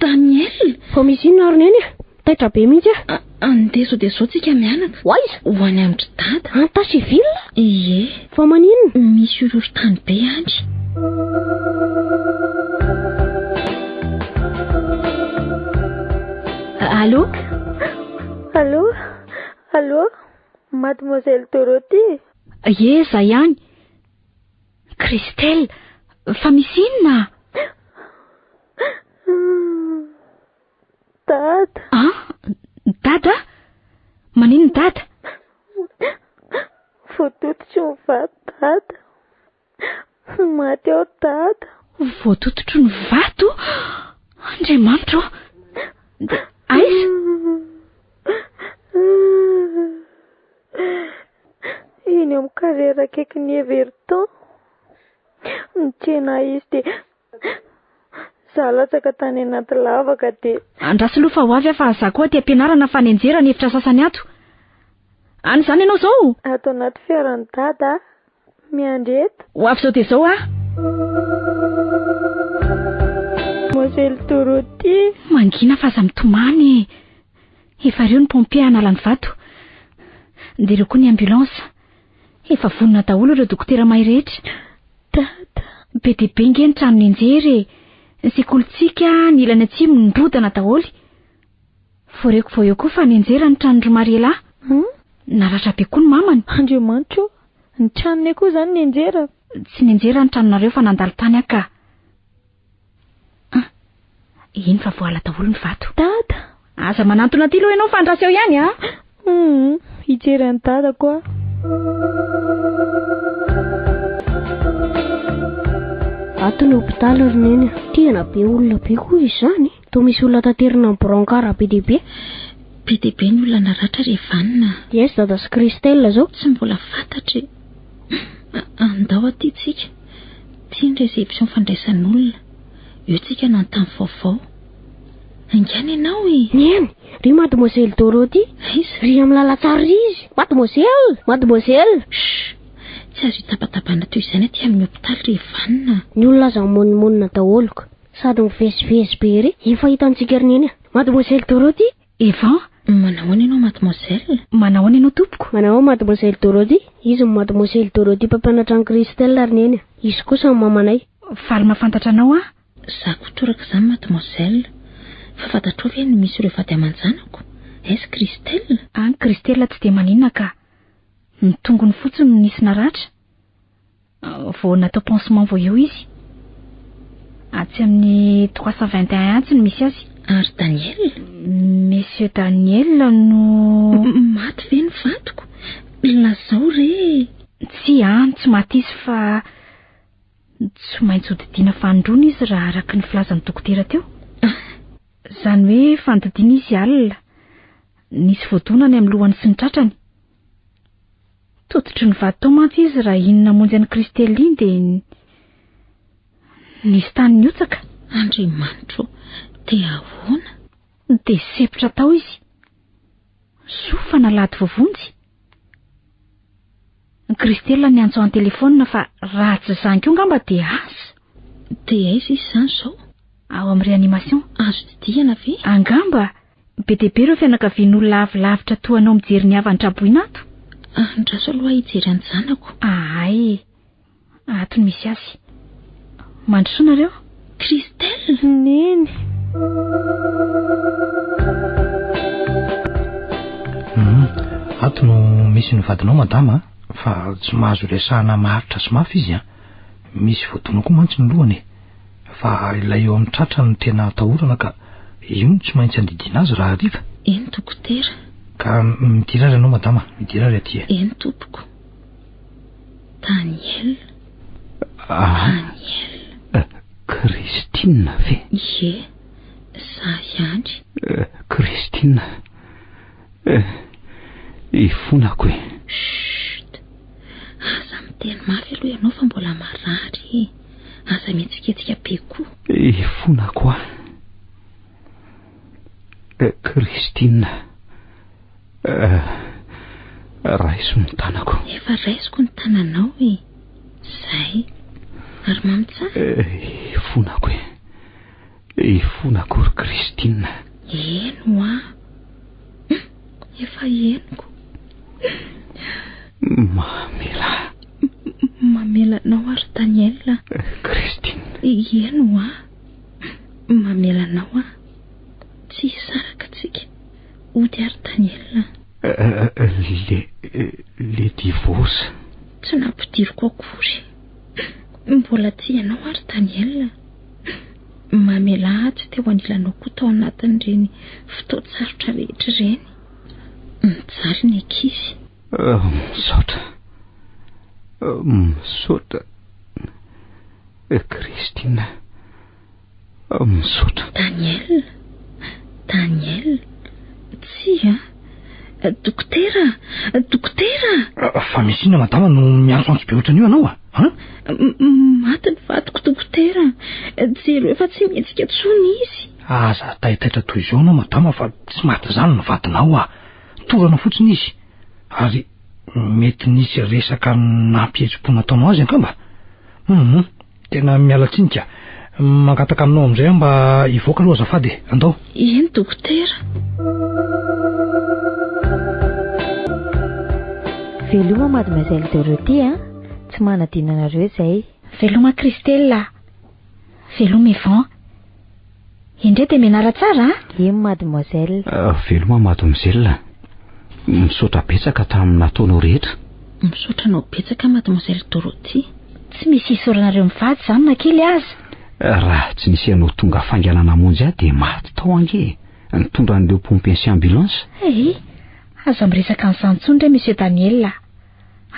Daniel! Fa misy inona ary Neny a? Taitra be mihitsy ah. Andeha sao dia sao tsika mianaka. Ho aiza? Ho any amin-dry dada. Any Tacheville? Ie. Fa maninona? Misy horohorontany be any. Allô? Allô? Allô? Mademoiselle Dorothy? Ie, za ihany. Christelle, fa misy inona? Dada. Ah, dada? Maninona dada? Voatototro ny vato dada. Maty aho dada. Voatototro ny vato? Andriamanitro. Dia aiza? Eny amin'ny carrière akaikin'ny Everton. Nitsena ahy izy dia Za latsaka tany anaty lavaka de. Andraso aloha fa ho avy aho fa za koa aty ampianarana fa nianjera ny efitra sasany ato. Any izany ianao zao? Ato anaty fiaran'i dada aho. Miandry eto. Ho avy zao dia zao aho. Mosely Dorothie. Mangina fa aza mitomany e. Efa reo ny pompier hanala ny vato. Dia reo koa ny ambulance. Efa vonona daholo ireo dokotera mahay rehetra. Dada, be dia be nge ny trano nianjera e! Ny sekolintsika ny ilany atsimo nirodana daholo. Voareko vao eo koa fa nianjera ny tranon-dry Mariela. Hum? Naratra be koa ny mamany. Andriamanitra o! Ny tranonay koa izany nianjera? Tsy nianjera ny tranonareo fa nandalo tany aho ka. Ah, eny fa voala daholo ny vato. Dada! Aza manantona aty loha ianao fa andraso eo ihany ah! Hum, hijery an'i dada koa. Ato ny hopitaly ry neny. Tena be olona be koa izany. Toa misy olona taterina ny brancard be dia be. Be dia be ny olona naratra ry Vanona a! Yes Dada sy Christelle izao. Tsy mbola fantatry e! Hum! Andao aty tsika. Ity ny réception fandraisan'olona. Eo tsika hanontany vaovao. Haingana ianao e! Neny! Ry Mademoiselle Dorothy! Aiza? Ry amin'ny lalantsary ry izy! Mademoiselle! Mademoiselle! Shh! Tsy azo hitabatabana toy izany aty amin'ny hopitaly ry Vanona a! Ny olona aza mimoninmonina daholo ka! Sady mivezivezy be ery. Efa hitantsika ry Neny a. Mademoiselle Dorothy, Eva, Manahoana ianao mademoiselle? Manahoana ianao tompoko? Manahoa mademoiselle Dorothy? Izy ny mademoiselle Dorothy mpampianatra an'i Christelle ry Neny a. Izy kosa ny mamanay. Faly mahafantatra anao aho. Za koa torak'izany mademoiselle. Fa fantatrao ve ny misy ireo vady aman-janako? Est-ce Christelle? An, Christelle tsy dia maninona ka. Ny tongony fotsiny no nisy naratra. Vao natao pansement vao eo izy. Atsy amin'ny trois cent vingt et un atsy no misy azy. Ary Daniel? Monsieur Daniel no. Maty ve ny vadiko? Lazao re! Tsia an, tsy maty izy fa tsy maintsy hodidiana fanondroana izy raha araka ny filazan'ny dokotera teo. Izany hoe fanodidiana izy alina. Nisy voadona any amin'ny lohany sy ny tratrany. Tototry ny vato tao mantsy izy raha iny namonjy an'i Christelle iny dia nisy tany nihotsaka. Andriamanitro ô, dia ahoana? Dia sepotra tao izy. Soa fa nalahady voavonjy. Ny Christelle niantso ahy an-telefaonina fa raha tsy izany koa angamba dia asa. Dia aiza izy izany izao? Ao amin'ny réanimation. Azo didihana ve? Angamba. Be dia be ireo fianakavian'olona avy lavitra toa anao mijery ny havan-traboina ato. Andraso aloha aho hijery an'ny zanako. Ahay e. Ato no misy azy. Mandrosoa nareo. Christelle! Neny. Hum. Ato no misy ny vadinao madama a. Fa tsy mahazo resahana maharitra sy mafy izy a. Misy voadona koa mantsy ny lohany e. Fa ilay eo amin'ny tratra no tena atahorana ka io no tsy maintsy andidiana azy rahariva. Eny dokotera. Ka midira ary ianao madama, midira ary aty e. Eny tompoko. Daniel. Ah. Daniel. Eh, Christine ve? Ie, za ihany. Eh, Christine. Eh, ifonako e. Chut. Aza miteny mafy aloha ianao fa mbola marary e. Aza mihetsiketsika be koa. Eh, fona koa. Eh, Christine. Eh, raiso ny tanako. Efa raisiko ny tananao e. Zay. Ary mamy tsara. Eh, fonako e. He fona akory Christine a! Heno an! Hum! Efa henoko! Hum! Mamelà! Hum! Mamela anao aho ry Daniel a! Christine! Heno an! Hum! Mamela anao aho! Tsy hisaraka antsika! Hody aho ry Daniel a! Le, le divorce! Tsy nampidiriko akory! Hum! Mbola tia anao aho ry Daniel a! mamelà atsy teo anilanao koa tao anatin'ireny fotoan-tsarotra rehetra ireny. Mijaly ny ankizy. Misaotra. Misaotra. Christine. Misaotra. Daniel. Daniel. Tsia. Dokotera! Dokotera! Fa misy inona madama no miantso antso be ohatran'io anao a? Ah? Maty ny vadiko dokotera. Jero efa tsy mihetsika tsony izy. Aza taitaitra toy izao anao madama fa tsy maty izany ny vadinao a. Torana fotsiny izy. Ary mety nisy resaka nampihetsi-po nataonao azy angamba. Mhm. Tena miala tsiny ka. Mangataka aminao amin'izay aho mba hivoaka aloha azafady e. Andao. Eny dokotera. Veloma mademoiselle Dorothée a, tsy manadino anareo izay. Veloma Christelle a. Veloma Yvan. Indray dia mianara tsara a! Iem mademoiselle. Veloma mademoiselle. Misaotra betsaka tamin'ny nataonao rehetra. Misaotra anao betsaka mademoiselle Dorothy. Tsy misy hisaoranareo mivady izany na kely aza. Raha tsy nisy ianao tonga faingana namonjy ahy dia maty tao ange nitondra an'ireo pompiers sy ambulance. Hey! Aza miresaka an'izany intsony re Monsieur Daniel a!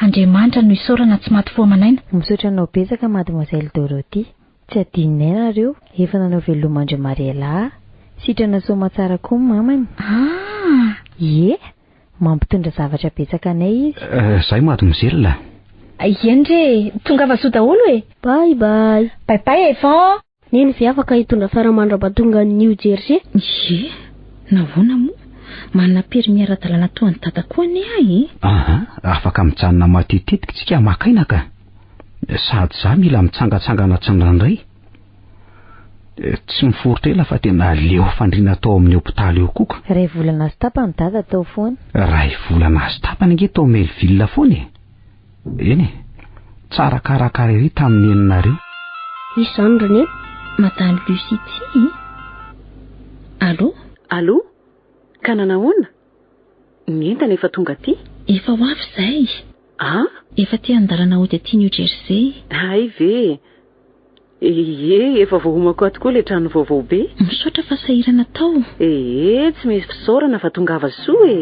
Andriamanitra no isaorana tsy maty fo aman'aina. Misaotra anao betsaka mademoiselle Dorothy. Tsy adinonay nareo, efa nanao veloma an-dry Mariela a! Sitrana soamatsara koa ny mamany. Ah! Ie! Mampitondra zavatra betsaka anay izy. Zay mademoiselle a! Ie ndry e! Tongava soa daholo e! Bye bye! Bye bye Evan! Neny ve afaka hitondra fiara mandrapa tonga any New Jersey? Ie! Nahoana moa? Manana permis ara-dalàna toa an'i Dada koa anie aho e! Aha! Afaka mijanona matetetiky tsika maka aina ka! Sady za mila mitsangatsangana tsindraindray. Tsy miforitra ela fa tena leo fandriana tao amin'ny hopitaly eo koa ka. Iray volana sy tapany dada tao foana. Iray volana sy tapany ange tao Melville foana e! Eny e, tsara karakara ery tamin'ny neninareo. Hisy izany ry neny, madame Lucie tsy. Allô? Allô? Ka nanahoana? Ny entana efa tonga aty? Efa ho avy izay. An? Efa aty an-dalana hody aty New Jersey. Hay ve! Ee, efa voahomako ato koa ilay trano vaovao be. Misaotra fa sahirana tao. Ee, tsy misy fisaorana fa tongava soa e!